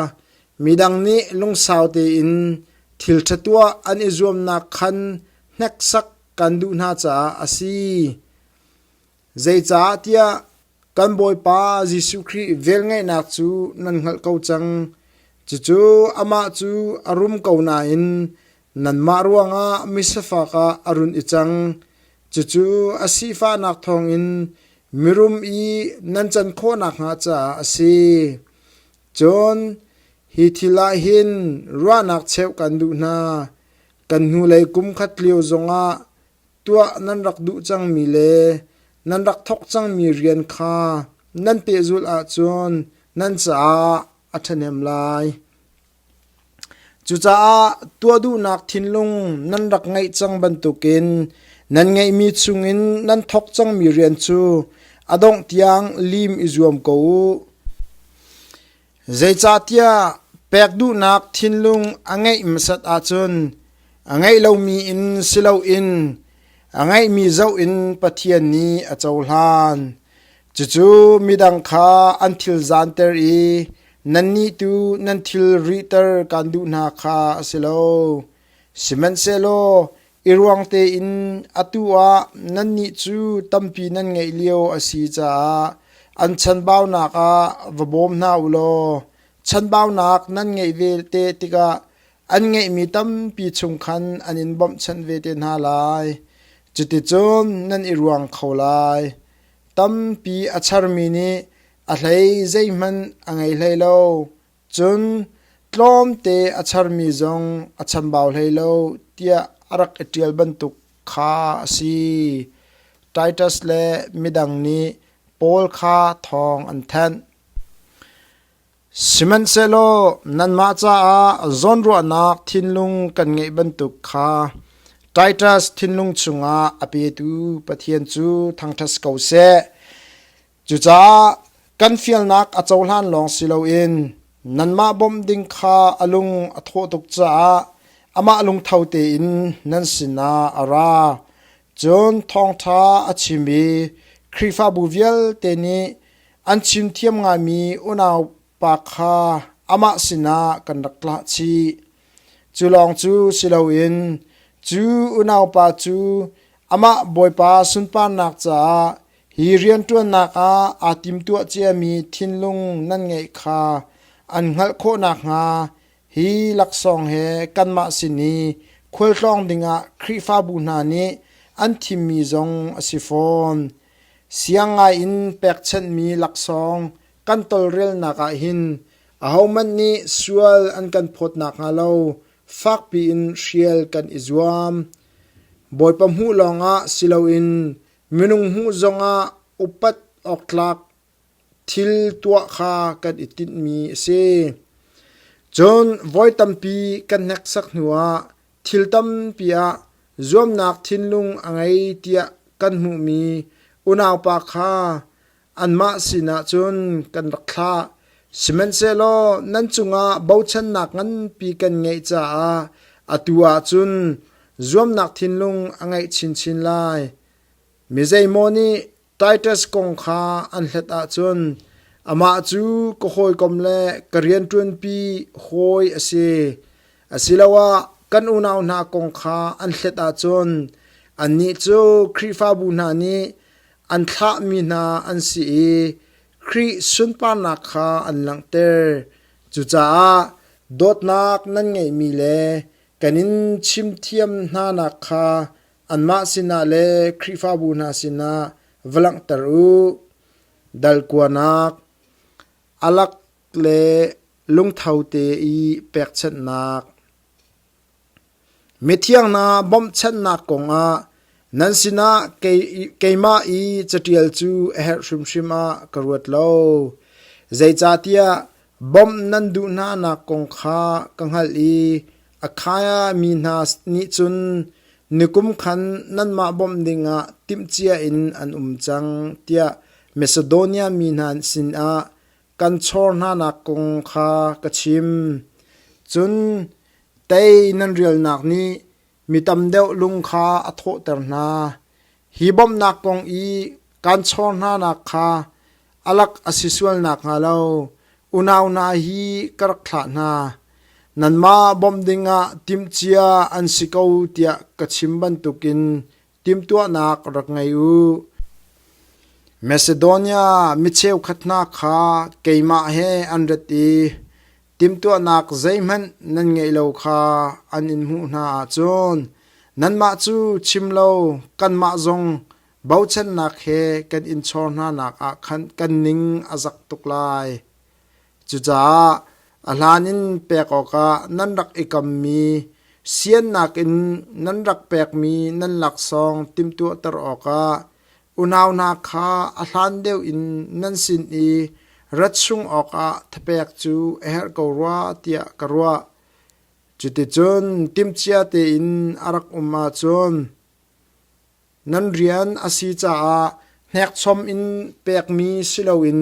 Speaker 1: midang nih lungsau tein thilṭha tuah an i zuamnak khan hneksak kan duh hna caah a si. Zeicahtiah kan Bawipa Jesuh Khrih velngeihnak cu nan hngalh ko cang; cucu amah cu a rum ko nain Nanmah ruangah misifak ah a run i cang; cucu a sifahnak thawngin mirum i nan can khawhnak hnga caah a si. Cun hi thil ah hin ruahnak cheuh kan duh hna: kan hnulei kum khat lio zongah tuah nan rak duh cangmi le nan rak thawk cangmi rian kha nan pehzulh ahcun nan caah a ṭhahnem lai. Cucaah tuah duhnak thinlung nan rak ngeih cang bantukin nan ngeihmi chungin nan thawk cangmi rian cu a dongh tiang lim i zuam ko u. Zeicahtiah pek duhnak thinlung a ngeih hmasat ahcun a ngeih lomi in si loin a ngeihmi zoh in Pathian nih a cohlan. Cucu midang kha an thil zanter i nannih tu nan thil rihter kaan duh hna kha a si lo. Sihmanhsehlaw i ruang tein atu ah nannih cu tampi nan ngeih lio a si caah an chanbaunak ah va bawm hna u law chanbaunak nan ngeih ve te tikah an ngeihmi tampi chung khan an in bawmhchanh ve te hna lai. Cuticun nan i ruang kho lai. Tampi a charmi nih a hlei zeihmanh a ngei hlei lo, cun tlawmte a charmi zong a chambau hlei lo tiah a rak i ṭial bantuk kha a si. Titus le midang nih Paul kha thawng an thanh. Sihmanhsehlaw nanmah caah zawnruahnak thinlung kan ngeih bantuk kha Titus thinlung chungah a petu Pathian cu thangṭhat si ko seh. Cucaah kan fialnak a cohlan lawng si loin nanmah bawmh ding kha a lung a thawh tuk caah amah lungtho tein nan sinah a ra. Cun thawngṭha a chim i Khrihfabu vialte nih An chimthiam ngaimi unaupa kha amah sinah kan rak tlah chih. Cu lawng cu si loin cu unaupa cu amah Bawipa sunparnak caah hi rianṭuannak ah aa timtuah ciami thinlung nan ngeih kha an hngalh khawh nakhnga hi laksawng he kanmah sin i khualtlawng dingah Khrihfabu hna nih an thimmi zong a si fawn. Siang ngaiin pekchanhmi laksawng kan tolrelnak ah hin ahohmanh nih sual an kan phawt nakhnga lo fakpi in hrial kan i zuam. Bawipa hmuh lawngah si loin minung hmuh zongah upat awk tlak Thil tuah kha kan i tinhmi a si. Cun voi tampi kan hneksak hnuah thil tampi ah zuamnak thinlung a ngei tiah kan hmuhmi unaupa kha anmah sinah cun kan rak thlah. Sihmanhsehlaw nan cungah bochannak nganpi kan ngeih caah atu ah cun zuamnak thinlung a ngeih chinchin lai. Mi zeimaw nih Titus kong kha an hlet ahcun amah cu ka hawikom le ka rianṭuanpi hawi a si asiloah kan unau hna kong kha an hlet ahcun annih cu Khrihfabu hna nih an thlahmi hna an si i Khrih sunparnak kha an langhter. Cucaah dawtnak nan ngeihmi le kan in chimthiam hnanak kha Anmah sinah le Khrihfabu hna sinah va langhter u. Dal kuanak, alak le lungtho te i pekchanhnak. Mithiang hna bawmhchanhnak kongah nan sinah keimah i caṭial cu a herh hrimhrim ah ka ruat lo. Zeicahtiah Bawmh nan duh hnanak kong kha ka hngalh i Akhaiah mi hna nih cun nikum khan nanmah bawmh dingah timhcia in an um cang tiah Macedonia mi hna sinah kan chawr hnanak kong kha ka chim. Cun tei nan rialnak nih Mi tam deuh lung kha a thawhter hna. Hi bawmhnak kong i kaan chawr hnanak kha a lak a si sual nakhnga lo unau hna hi ka rak thlah hna. Nanmah bawmh dingah timhcia an si ko tiah ka chim bantukin Timhtuahnak rak ngei u. Macedonia mi cheukhat hna kha keimah he an rat i timhtuahnak zeihmanh nan ngeih lo kha an in hmuh hna ahcun nanmah cu chim lo kanmah zong bochannak he kan in chawr hnanak ah khan kan ning a zak tuk lai. Cucaah a hlan in pek awkah nan rak i kammi siannak in nan rak pekmi nan laksawng timhtuahter awkah unau hna kha a hlan deuh in nan sin i rat chung awkah thapek cu a herh ko rua tiah ka ruah. Cuticun timhcia tein a rak um ahcun, Nan rian a si caah hnekchom in pekmi si loin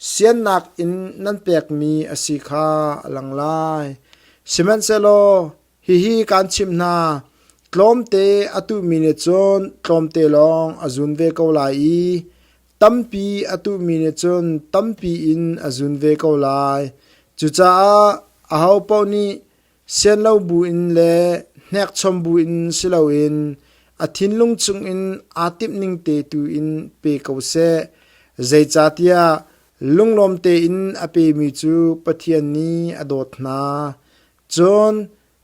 Speaker 1: siannak in nan pekmi a si kha a lang lai. Sihmanhsehlaw hihi kaan chimh hna, tlawmte a tuhmi nih cun tlawmte lawng a zun ve ko lai i tampi a tuhmi nih cun tampi in a zun ve ko lai. Cucaah ahopaoh nih sian lo buin le hnekchom buin si loin a thinlung cungin aa timhning te tuin pe ko seh, zeicahtiah lunglawm tein a pemi cu Pathian nih a dawt hna. Cun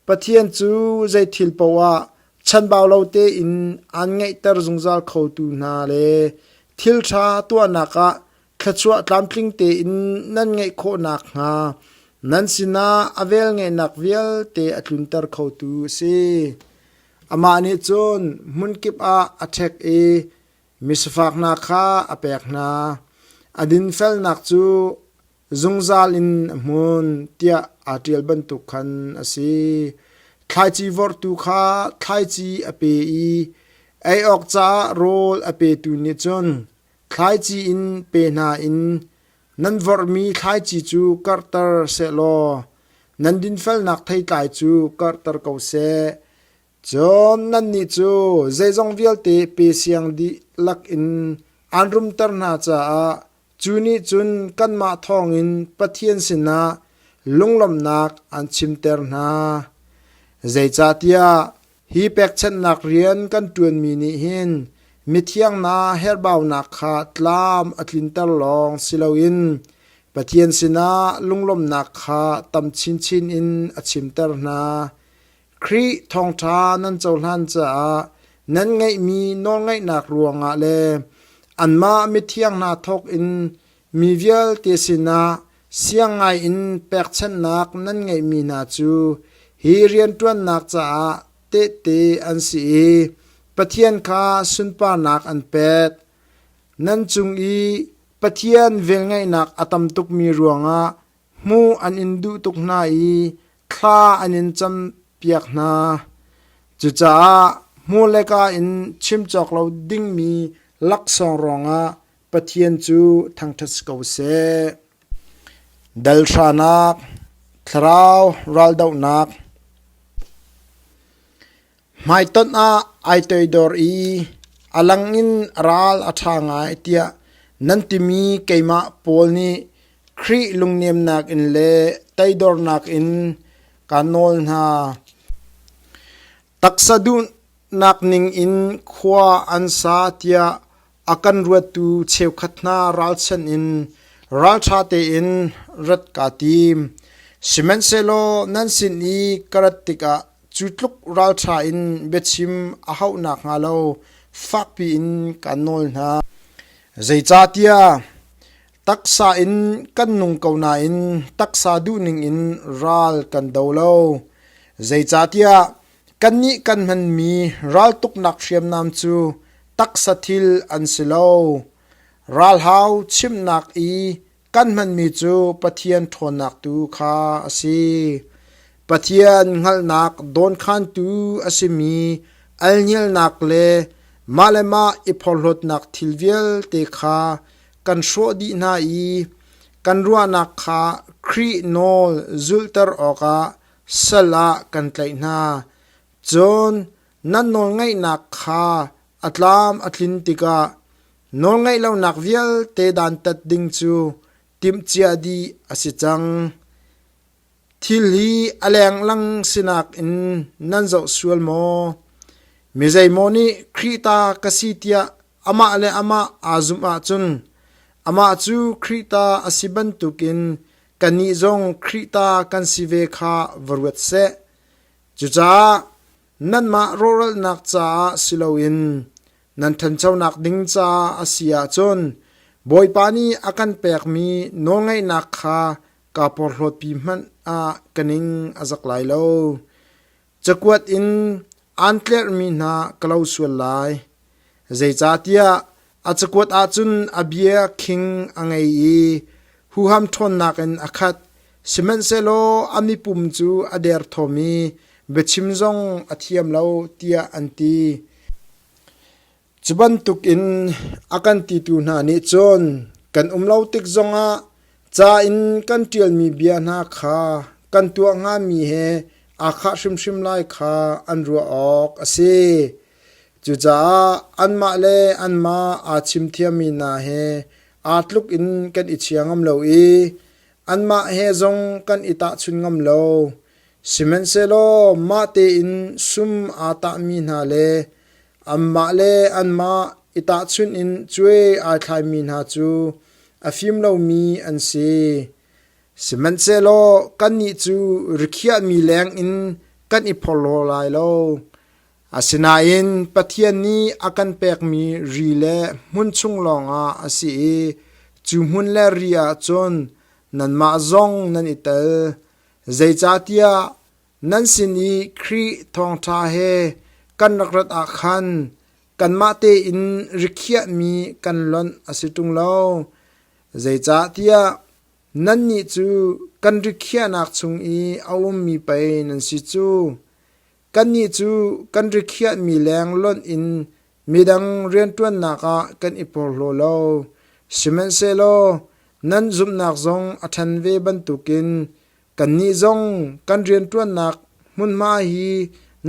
Speaker 1: Pathian cu zei thil paohah chanbau lo tein aan ngeihter zungzal khotu hna le thil ṭha tuahnak ah Thluachuah tlamtling tein nan ngeih khawh nakhnga nan sinah a velngeihnak vialte a tlunter khotu a si. Amah nih cun hmunkip ah a ṭhek i misafaknak kha a pek hna. A dinfelnak cu zungzal in a hmun tiah aa ṭial bantuk khan a si. Thlaici vorhtu kha thlaici a pe i ei awk caah rawl a petu nih cun Thlaici in pe hna in nan vorhmi thlaici cu karhter sehlaw nan dinfelnak theitlai cu karhter ko seh. Cun nannih cu zeizong vialte pe siang dih lakin aan rumter hna caah cu nih cun kanmah thawngin Pathian sinah lunglawmhnak aan chimter hna. Zeicahtiah Hi pekchanhnak rian kan ṭuanmi nih hin mithiangnak herhbaunak kha tlam a tlinter lawng si loin Pathian sinah lunglawmhnak kha tam chinchin in a chimter hna. Khrih thawngṭha nan cohlan caah nan ngeihmi nawlngaihnak ruangah le anmah mithiang hna thawkin Mi vialte sinah siang ngaiin pekchanhnak nan ngeihmi hna cu hi rianṭuannak caah tehte an si i Pathian kha sunparnak an pek. Nan cung i Pathian velngeihnak a tam tukmi ruangah hmuh an in duh tuk hna i thla an in campiak hna. Cucaah hmur le ka in chim cawk lo dingmi laksawng ruangah Pathian cu thangṭhat si ko seh. Dal hranak, thlarau raldohnak, hmaitonh ah ai toidor i a lang in ral a ṭha ngai tiah nan timi keimah Paul nih Khrih lungnemnak in le teidornak in kaa nawl hna. Taksa duhnak ning in khua an sa tiah A kan ruattu cheukhat hna ralchan in ralṭha tein rat kaa tim. Sihmanhsehlaw nan sin i ka rat tikah cu tluk ralṭha in biachim a hauh nakhnga lo fakpi in kaan nawl hna. Zeicahtiah taksa in kan nung ko nain taksa duh ningin ral kan do lo. Zeicahtiah Kannih kan hmanmi raltuknak hriamnam cu taksa thil an si lo. Ralhau chimnak i kan hmanmi cu Pathian ṭhawnnak tu kha a si. Pathian hngalhnak dawnkhantu a simi alngialnak le mah le mah i phorhlawtnak thil vialte kha kan hrawh dih hna i kan ruahnak kha Khrih nawl zulter awkah sal ah kan tlaih hna. Cun nan nawlngaihnak kha a tlam a tlin tikah nawlngaih lonak vialte dantat ding cu timhcia dih a si cang. Thil hi a lenglang sinak in nan zoh sual maw? Mi zeimaw nih Khrih ta ka si tiah amah le amah aa zumh ahcun amah cu Khrih ta a si bantukin kannih zong Khrih ta kan si ve kha va ruat seh. Cucaah nanmah rawhralnak caah si loin nan ṭhanchonak ding caah a si ahcun Bawipa nih a kan pekmi nawlngaihnak kha kaa porhlawtpi hmanh ah ka ning a zak lai lo. Cakuat in aan tlerhmi hna ka lo sual lai. Zeicahtiah a cakuat ah cun a bia khing a ngei i huham ṭhawnnak in a khat. Sihmanhsehlaw a mipum cu a derthawm i biachim zong a thiam lo, tiah an ti. Cu bantukin a kan titu hna nih cun kan um lo tik zongah ca in kan ṭialmi bia hna kha kan tuah hngami he aa khah hrimhrim lai kha an ruah awk a si. Cucaah anmah le anmah aa chimthiammi hna he aa tluk in kan i chia ngam lo i anmah he zong kan i tahchun ngam lo. Sihmanhsehlaw mah tein sum aa tahmi hna le anmah le anmah i tahchunh in cuai aa thlaimi hna cu a fim lomi an si. Sihmanhsehlaw kannih cu rikhiahmi lengin kan i phorhlaw lai lo. Asinain Pathian nih a kan pekmi ri le hmun chung lawngah a si i cu hmun le ri ah cun nanmah zong nan i tel. Zeicahtiah nan sin i Khrih Thawngṭha he kan rak rat ah khan kanmah tein rikhiahmi kan lonh a si ṭung lo. Zeicahtiah nannih cu kan rikhiahnak chung i a ummi pei nan si cu. Kannih cu kan rikhiahmi leng lonh in Midang rianṭuannak ah kan i porhlaw lo, sihmanhsehlaw nan zumhnak zong a ṭhan ve bantukin kannih zong kan rianṭuannak hmunhma hi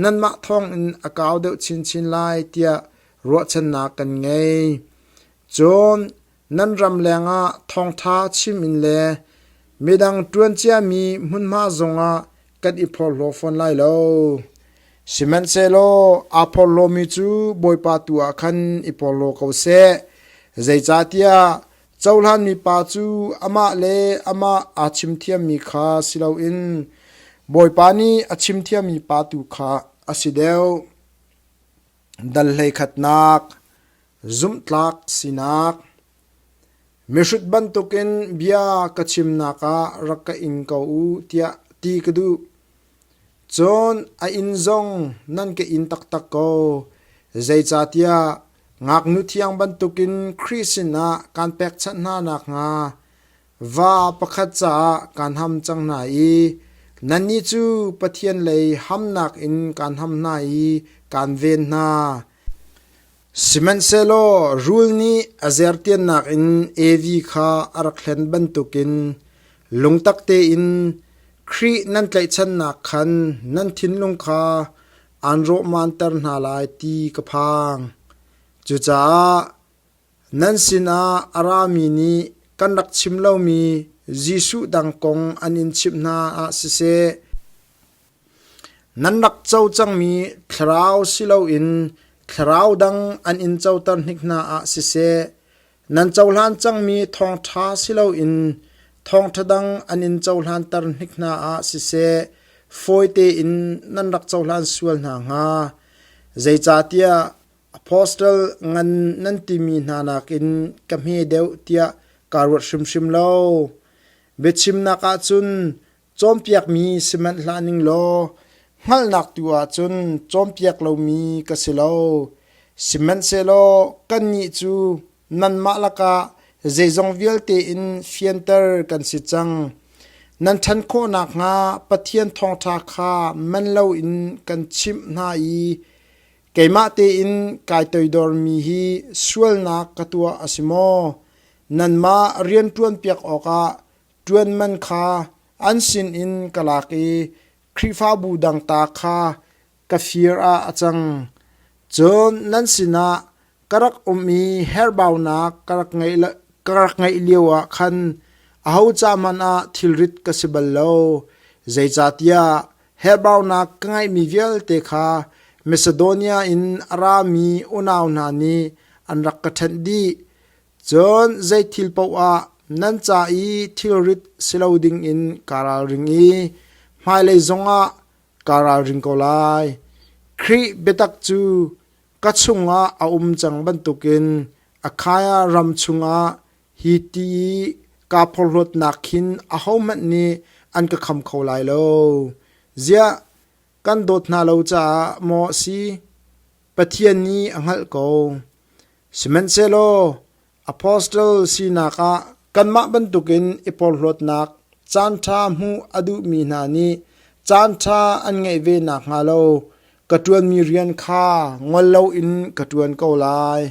Speaker 1: nanmah thawngin a kau deuh chinchin lai tiah ruahchannak kan ngei. Cun Nan ram lengah thawngṭha chim in le midang ṭuan ciami hmunhma zongah kan i phorhlaw fawn lai lo. Sihmanhsehlaw aa phorhlawmi cu Bawipa tu ah khan i porhlaw ko seh, zeicahtiah cohlan mipa cu amah le amah aa chimthiammi kha si loin Bawipa nih a chimthiammi pa tu kha a si deuh. Dal hleikhatnak, zumhtlak sinak, mihrut bantukin bia ka chimnak ah rak ka ing ko u tiah ti ka duh. Cun a inn zong nan ka in taktak ko. Zeicahtiah ngaknu thiang bantukin Khrih sinah kaan pekchanh hna nakhnga Va pakhat caah kaan ham cang hna i nannih cu Pathian lei hamnak in kaan ham hna i kaan ven hna. Sihmanhsehlaw rul nih a zertiannak in Evi kha a rak hlen bantukin lungtak tein Khrih nan tlaihchannak khan nan thinlung kha aan rawhmanter hna lai ti ka phang. Cucaah Nan sinah a rami nih kan rak chim lomi Jesuh dang kong an in chimh hna ah siseh, nan rak co cangmi thlarau si loin thlarau dang an in coter hnik hna ah siseh, nan cohlan cangmi thawngṭha si loin thawngṭha dang an in cohlanter hnik hna ah siseh, fawi tein nan rak cohlan sual hna hnga. Zeicahtiah Apostle ngan nan timi hna nakin ka hme deuh tiah kaa ruat hrimhrim lo. Biachimnak ah cun cawnpiakmi si manh hlah ning law hngalhnak tu ah cun cawnpiak lomi ka si lo. Sihmanhsehlaw kannih cu nanmah lakah zeizong vialte in fianter kan si cang. Nan ṭhan khawh nakhnga Pathian thawngṭha kha man loin kan chimh hna i Keimah tein kai toidormi hi sualnak ka tuah a si maw? Nanmah rian ṭuanpiak awkah ṭuan man kha an sinin ka lak i Khrihfabu dang ta kha ka fir ah a cang. Cun nan sinah ka rak um i herhbaunak ka rak ngeih lioah khan aho ca hmanh ah thilrit ka si bal lo, zeicahtiah Herhbaunak ka ngeihmi vialte kha Masedonia in a rami unau hna nih an rak ka ṭhenh dih. Cun zei thil paoh ah nan ca i thilrit si lo dingin kaa ralring i hmailei zongah kaa ralring ko lai. Khrih biatak cu ka chungah a um cang bantukin Akhaiah ram chungah Hi ti i kaa porhlawtnak khin ahohmanh nih an ka kham kho lai lo. Ziah kan dawt hna lo caah maw a si? Pathian nih a hngalh ko. Sihmanhsehlaw apostle sinak ah kanmah bantukin i porhlawtnak caanṭha hmuh a duhmi hna nih caanṭha an ngeih ve nakhnga lo Ka ṭuanmi rian kha ngol loin ka ṭuan ko lai.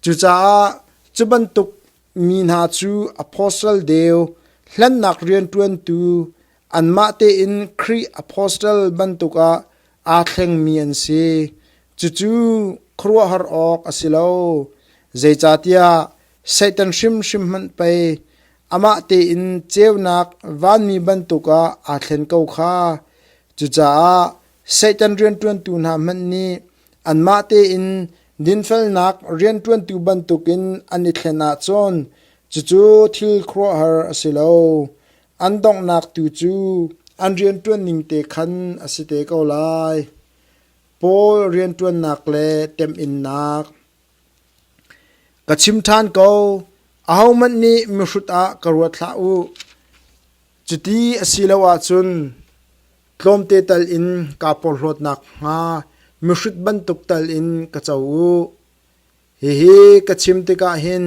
Speaker 1: Cucaah cu bantuk mi hna cu apostle deu, hlennak rianṭuantu, anmah tein Khrih apostle bantukah aa thlengmi an si. Cucu khuaruahhar awk a si lo. Zeicahtiah Satan hrimhrim hmanh pei amah tein ceunak vanmi bantukah aa thlen ko kha. Cucaah Satan rianṭuantu hna hmanh nih anmah tein dinfelnak rianṭuantu bantukin an i thlen ahcun cucu thil khuaruahhar a si lo. An donghnak tu cu an rianṭuan ning te khan a si te ko lai. Paul rianṭuannak le temhinnak Ka chim ṭhan ko, ahohmanh nih mihrut ah ka ruat hlah u. Cuti a si lo ahcun tlawmte tal in kaa porhlawt nakhnga mihrut bantuk tal in ka co u. Hihi ka chim tikah hin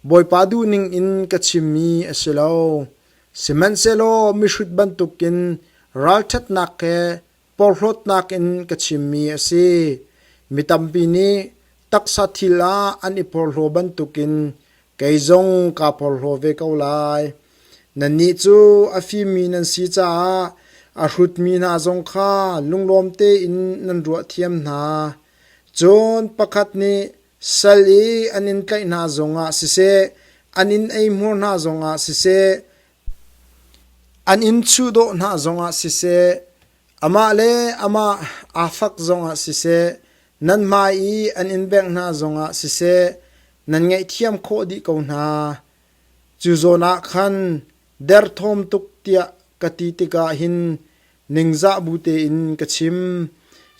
Speaker 1: Bawipa duhning in ka chimmi a si lo; sihmanhsehlaw mihrut bantukin ralṭhatnak he porhlawtnak in ka chimmi a si. Mi tampi nih taksa thil ah an i porhlaw bantukin kei zong kaa porhlaw ve ko lai. Nannih cu a fimmi nan si caah a hrutmi hna zong kha lunglawm tein nan ruah thiam hna. Cun pakhat nih sal i an in tlaih hna zongah siseh, an in eihmur hna zongah siseh, An inn chuh dawh hna zongah siseh, amah le amah aa fak zongah siseh, nan hmai i an inn bengh hna zongah siseh nan ngaihthiam khawh dih ko hna. Cu zawn ah khan derthawm tuk tiah ka ti tikah hin ningzah bu tein ka chim.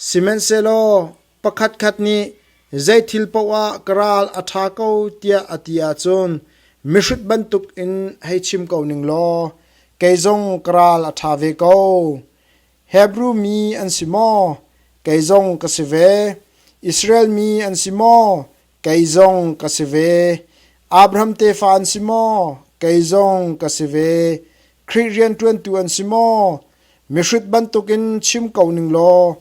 Speaker 1: Sihmanhsehlaw pakhatkhat nih zeithil paoh ah ka ral a ṭha ko tiah a ti ahcun mihrut bantukin hei chim ko ning law kei zong ka ral a ṭha ve ko. Hebru mi an si maw? Kei zong ka si ve. Israel mi an si maw? Kei zong ka si ve. Abraham tefa an si maw? Kei zong ka si ve. Khrih rianṭuantu an si maw? Mihrut bantukin chim ko ning law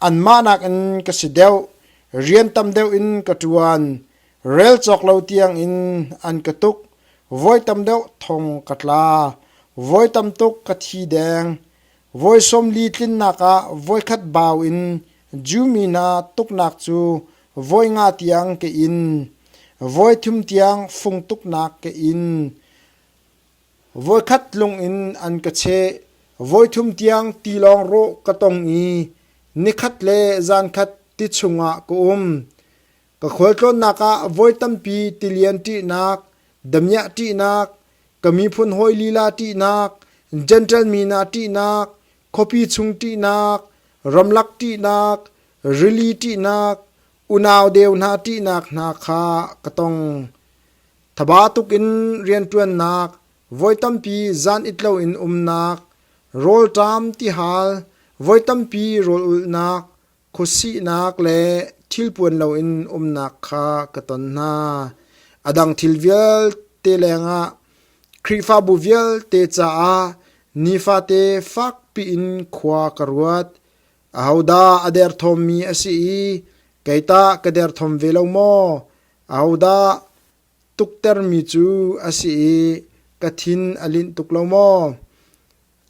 Speaker 1: anmah nakin ka si deuh. Rian tam deuh in ka ṭuan. Rel cawk lo tiangin an ka tuk. Voi tam deuh thong ka tla. Voi tam tuk ka thi deng. Voi sawmli tlinnak ah voikhat bau in Jew mi hna tuknak cu voi nga tiang ke in, voi thum tiang fung tuknak ke in, voikhat lung in an ka cheh. Voi thum tiang tilawng rawh ka tong i nikhat le zankhat ti chungah ka um. Ka khualtlawnnak ah voi tampi tilian ṭihnak, damiah ṭihnak, ka miphun hawi lila ṭihnak, Jentail mi hna ṭihnak, khuapi chung ṭihnak, ramlak ṭihnak, rili ṭihnak, unau deu hna ṭihnak hna kha ka tong. Thaba tukin rianṭuannak, voi tampi zan it loin umnak, rawlṭam tihal, voi tampi rawl ulhnak, Khuasihnak le thilpuan loin umnak kha ka ton hna. A dang thil vialte lengah Khrihfabu vialte caah nifate fakpi in khua ka ruat. Ahodah a derthawmmi a si i kei tah ka derthawm ve lo maw? Ahodah tuktermi cu a si i ka thin a linh tuk lo maw?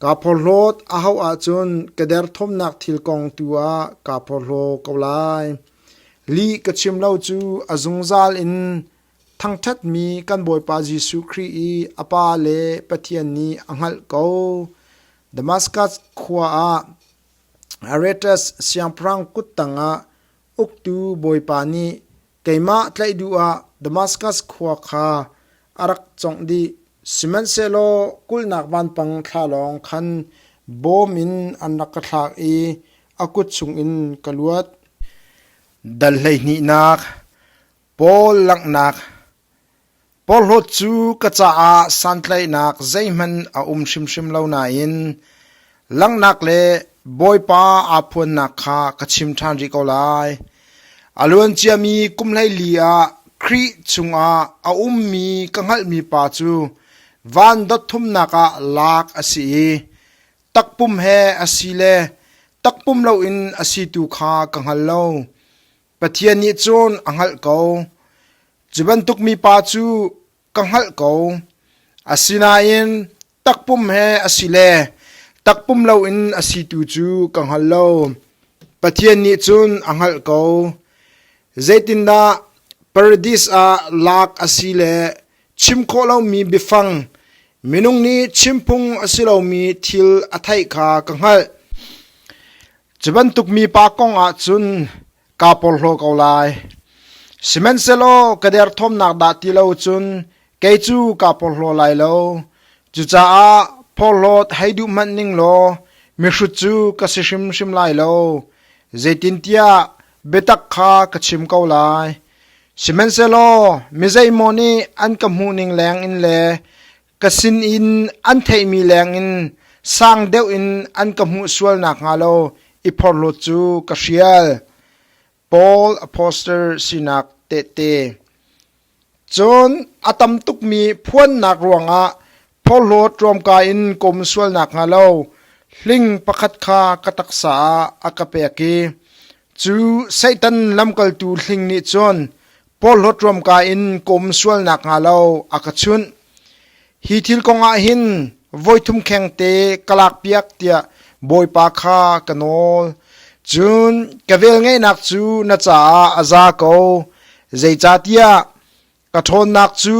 Speaker 1: Kaa porhlawt a hauh ahcun ka derthawmnak thil kong tu ah kaa porhlaw ko lai. Lih ka chim lo cu a zungzal in thangṭhatmi kan Bawipa Jesuh Khrih i a Pa le Pathian nih a hngalh ko. Damaskas khua ah Aretas siangpahrang kut tangah uktu bawipa nih keimah tlaih duh ah Damaskas khua kha a rak congh dih. Sihmanhsehlaw kulhnak vanpang thla lawng khan bawm in an rak ka thlak i a kut chungin ka luat. Dal hleihnihnak, Paul langhnak, Porhlawt cu ka caah santlaihnak zeihmanh a um hrimhrim lo nain langhnak le Bawipa aa phuannak kha ka chim ṭhan rih ko lai. A luanciami kum hleili ah Khrih chungah a ummi ka hngalhmi Pa cu van dotthumnak ah lak a si i takpum he a si le takpum loin a si tu kha ka hngal lo. Pathian nih cun a hngalh ko, cu bantuk mipa cu ka hngalh ko. Asinain takpum he a si le takpum loin a si tu cu ka hngal lo. Pathian nih cun a hngalh ko. Zeitindah paradis ah lak a si le Chim khawh lomi biafang minung nih chimphung a si lomi thil a theih kha ka hngalh. Cu bantuk mipa kong ah cun kaa porhlaw ko lai. Sihmanhsehlaw ka derthawmnak dah ti lo cun kei cu kaa porhlaw lai lo. Cucaah porhlawt hei duh hmanh ning law mihrut cu ka si hrimhrim lai lo. Zeitintiah biatak kha ka chim ko lai. Sihmanhsehlaw mizeimaw nih an ka hmuhning lengin le ka sin in an theihmi lengin sang deuh in an ka hmuh sual nakhnga lo i phorhlawt cu ka hrial. Paul apostle sinak tehte. Cun a tam tukmi phuannak ruangah phorhlawt ruamka in ka um sual nakhnga lo hling pakhat kha ka taksa ah a ka pek i Cu Satan lamkaltu hling nih cun porhlawt ruamka in ka um sual nakhnga lo a ka chunh. Hi thil kongah hin voi thum kheng te ka lakpiak tiah Bawipa kha ka nawl. Cun ka velngeihnak cu na caah a za ko, zeicahtiah ka ṭhawnnak cu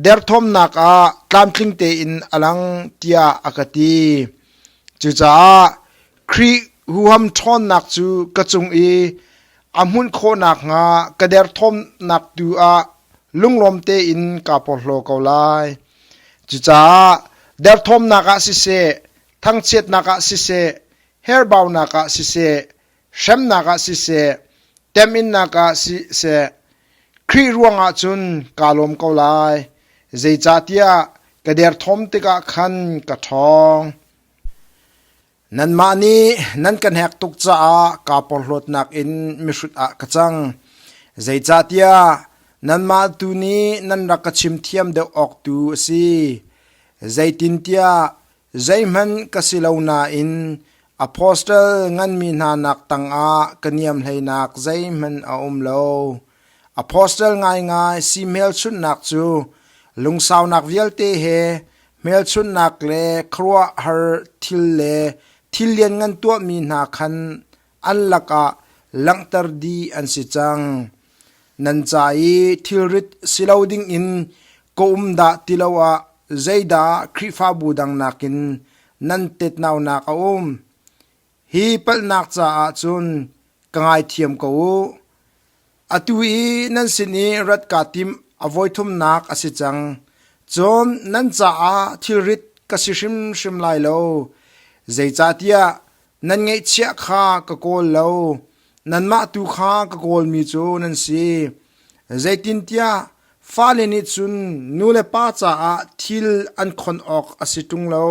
Speaker 1: derthawmnak ah tlamtling tein a lang tiah a ka ti. Cucaah Khrih huham ṭhawnnak cu ka cung i a hmunh khawh nakhnga ka derthawmnak tu ah lunglawm tein kaa porhlaw ko lai. Cucaah derthawmnak ah siseh, thangchiatnak ah siseh, herbaunak ah siseh, hremnak ah siseh, temhinnak ah siseh, Khrih ruangah cun kaa lawm ko lai. Zeicahtiah ka derthawm tikah khan ka ṭhawng. Nanmah nih nan ka hnek tuk caah kaa porhlawtnak in mihrut ah ka cang. Zeicahtiah nanmah tu nih nan rak ka chim thiam deuh awk tu a si. Zeitintiah Zeihmanh ka si lo nain apostle nganmi hna nak tangah ka niam hleinak zeihmanh a um lo. Apostle ngaingai si hmelchunhnak cu lungsaunak vialte he hmelchunhnak le khuaruahhar thil le thil lianngan tuahmi hna khan an lakah langhter dih an si cang. Nan ca i thilrit si lo dingin ka um dah ti lo ah zeidah Khrihfabu dang nakin nan tetnaunak a um? Hi palhnak caah cun ka ngaithiam ko u. Atu i nan sin i rat kaa timh a voi thumnak a si cang. Cun nan caah thilrit ka si hrimhrim lai lo. Zeicahtiah nan ngaihchiah kha ka kawl lo, nanmah tu kha ka kawlmi cu nan si. Zeitintiah fale nih cun nu le pa caah thil an khon awk a si ṭung lo.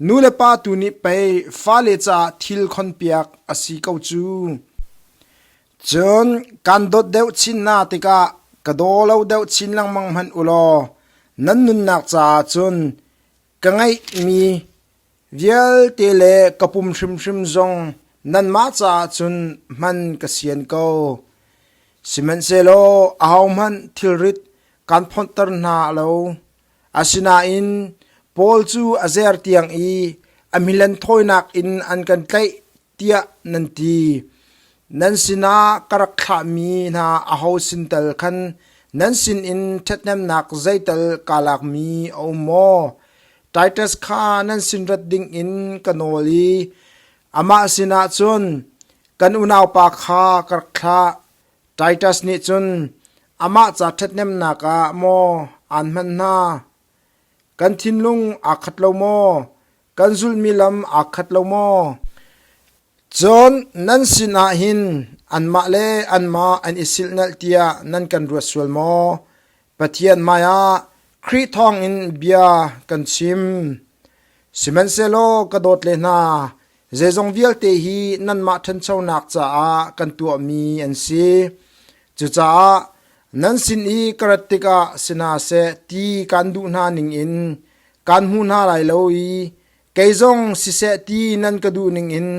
Speaker 1: Nu le pa tu nih pei fale caah thil khonpiak a si ko cu. Cun kan dawt deuh chin hna tikah ka daw lo deuh chin lengmang hmanh u law nan nunnak caah cun ka ngeihmi vialte le ka pum hrimhrim zong nanmah caah cun hman ka sian ko. Sihmanhsehlaw ahohmanh thilrit kan phonhter hna lo. Asinain Paul cu a zer tiang i a milan thawinak in an kan tlaih tiah nan ti. Nan sinah ka rak thlahmi hna aho sin tal khan nan sinin ṭhathnemnak zeital kaa lakmi a um maw? Titus kha nan sin rat dingin ka nawl i amah sinah cun, kan unaupa kha ka rak thlah. Titus nih cun amah ca ṭhathnemnak ah maw aan hman hna? Kan thinlung aa khat lo maw? Kan zulhmi lam aa khat lo maw? Cun nan sinah hin anmah le anmah an i silhnalh tiah nan kan ruat sual maw? Pathian hmaiah Khrih thawngin bia kan chim. Sihmanhsehlaw ka dawt le hna, zeizong vialte hi nanmah ṭhanchonak caah kan tuahmi an si. Cucaah nan sin i ka rat tikah si hna seh ti kaan duh hna ningin kaan hmu hna lai lo i kei zong siseh ti nan ka duh ningin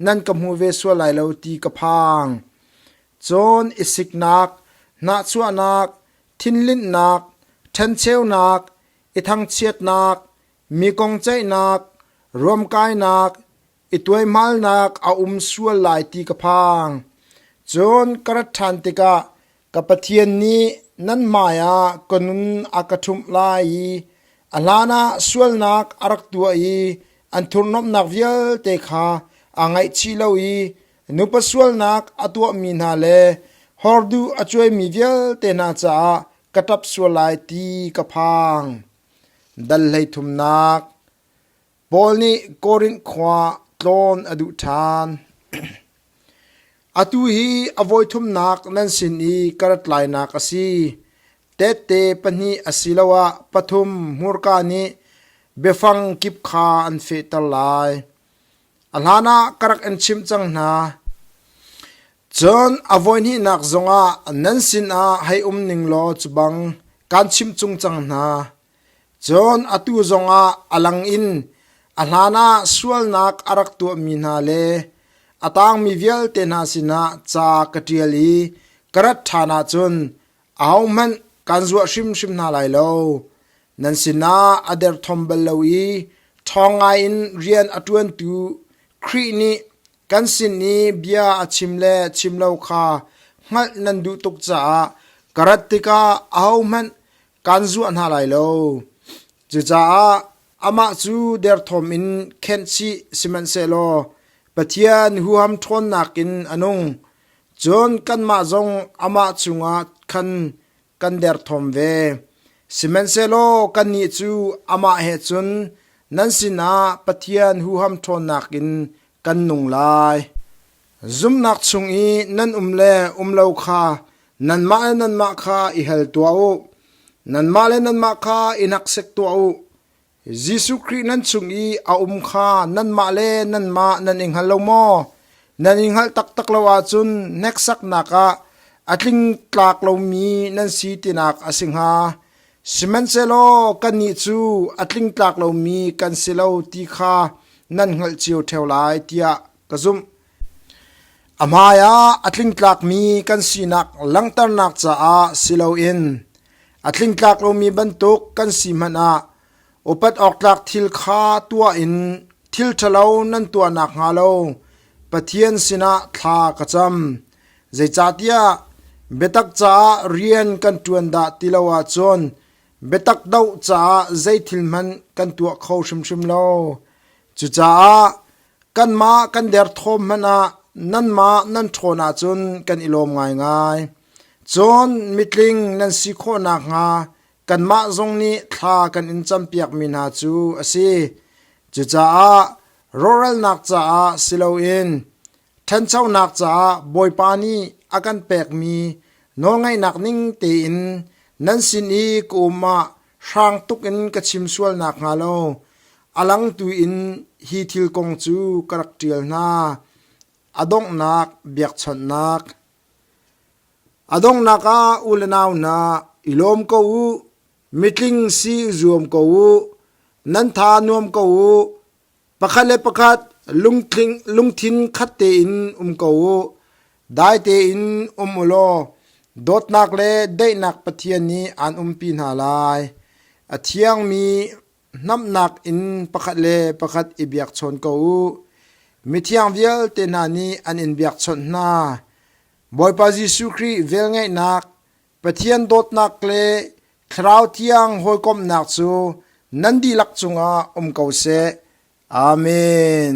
Speaker 1: nan ka hmu ve sual lai lo ti ka phang. Cawn i siknak, hnahchuahnak, thinlinhnak, ṭhencheunak, i thangchiatnak, mi kong ceihnak, ruamkainak, i tuaihmalnak a um sual lai ti ka phang. Cun ka rat ṭhan tikah ka Pathian nih nan hmaiah ka nun a ka ṭhumh lai i a hlanah sualnak a rak tuah i an thurhnawmhnak vialte kha aa ngaihchih lo i Nupa sualnak a tuahmi hna le horduh a cuaimi vialte hna caah ka ṭap sual lai ti ka phang. Dal hleithumnak Paul nih Korinth khua tlawn a duh ṭhan. Atu hi a voithumnak nan sin i ka rat lainak a si. Tehte pahnih asiloah pathum hmurka nih biafang kip kha an fehter lai. A hlanah ka rak in chimh cang hna. Cun a voihnihnak zongah nan sinah hei um ning law cubang kaan chimh chung cang hna. Cun atu zongah a lang in a hlanah sualnak a rak tuahmi hna le a tangmi vialte hna sinah ca ka ṭial i ka rat ṭhan ahcun ahohmanh kan zuah hrimhrim hna lai lo. Nan sinah a derthawm bal lo i ṭhawng ngaiin rian a ṭuantu Khrih nih kan sin i bia a chim le chim lo kha hngalh nan duh tuk caah ka rat tikah ahohmanh kan zuah hna lai lo. Cucaah amah cu derthawm in khenh chih sihmanhsehlaw Pathian huham ṭhawnnak in a nung. Cun kanmah zong amah cungah khan kan derthawm ve. Sihmanhsehlaw kannih cu amah he cun nan sinah Pathian huham ṭhawnnak in kan nung lai. Zumhnak chung i nan um le um lo kha nanmah le nanmah kha i hal tuah u; nanmah le nanmah kha i hnaksek tuah u. Jesuh Khrih nan chung i a um kha nanmah le nanmah nan i hngal lo maw? Nan i hngalh taktak lo ahcun hneksaknak ah a tling tlak lomi nan si tinak a si hnga. Sihmanhsehlaw kannih cu a tling tlak lomi kan si lo ti kha nan hngalh cio ṭheo lai tiah ka zumh. A hmaiah a tlingtlakmi kan sinak langhternak caah si loin a tlingtlak lomi bantuk kan si hmanh ah upat awktlak thil kha tuah in thil ṭhalo nan tuah nakhnga lo Pathian sinah thla ka cam. Zeicahtiah biatak caah rian kan ṭuan dah ti lo ahcun biatak doh caah zeithil hmanh kan tuah kho hrimhrim lo. Cucaah Kanmah kan derthawm hmanh ah nanmah nan ṭhawn ahcun kan i lawm ngaingai. Cun mitling nan si khawh nakhnga kanmah zong nih thla kan in campiakmi hna cu a si. Cucaah rawhralnak caah si loin ṭhanchonak caah Bawipa nih a kan pekmi nawlngaihnak ning tein nan sin i ka um ah Hrang tuk in ka chim sual nakhnga lo a langtu in hi thil kong cu ka rak ṭial hna: a donghnak biakchawnhnak. A donghnak ah u le nau hna, i lawm ko u; mitling si i zuam ko u; nan tha nuam ko u. Pakhat le pakhat lungthin khat tein um ko u. Dai tein um u law dawtnak le daihnak Pathian nih aan umpi hna lai. A thiangmi hnamhnak in pakhat le pakhat i biakchawn ko u. Mithiang vialte hna nih an in biakchawnh hna. Bawipa Jesuh Khrih velngeihnak, Pathian dawtnak le Thlarau Thiang hawikomhnak cu nan dihlak cungah um ko seh. Amen.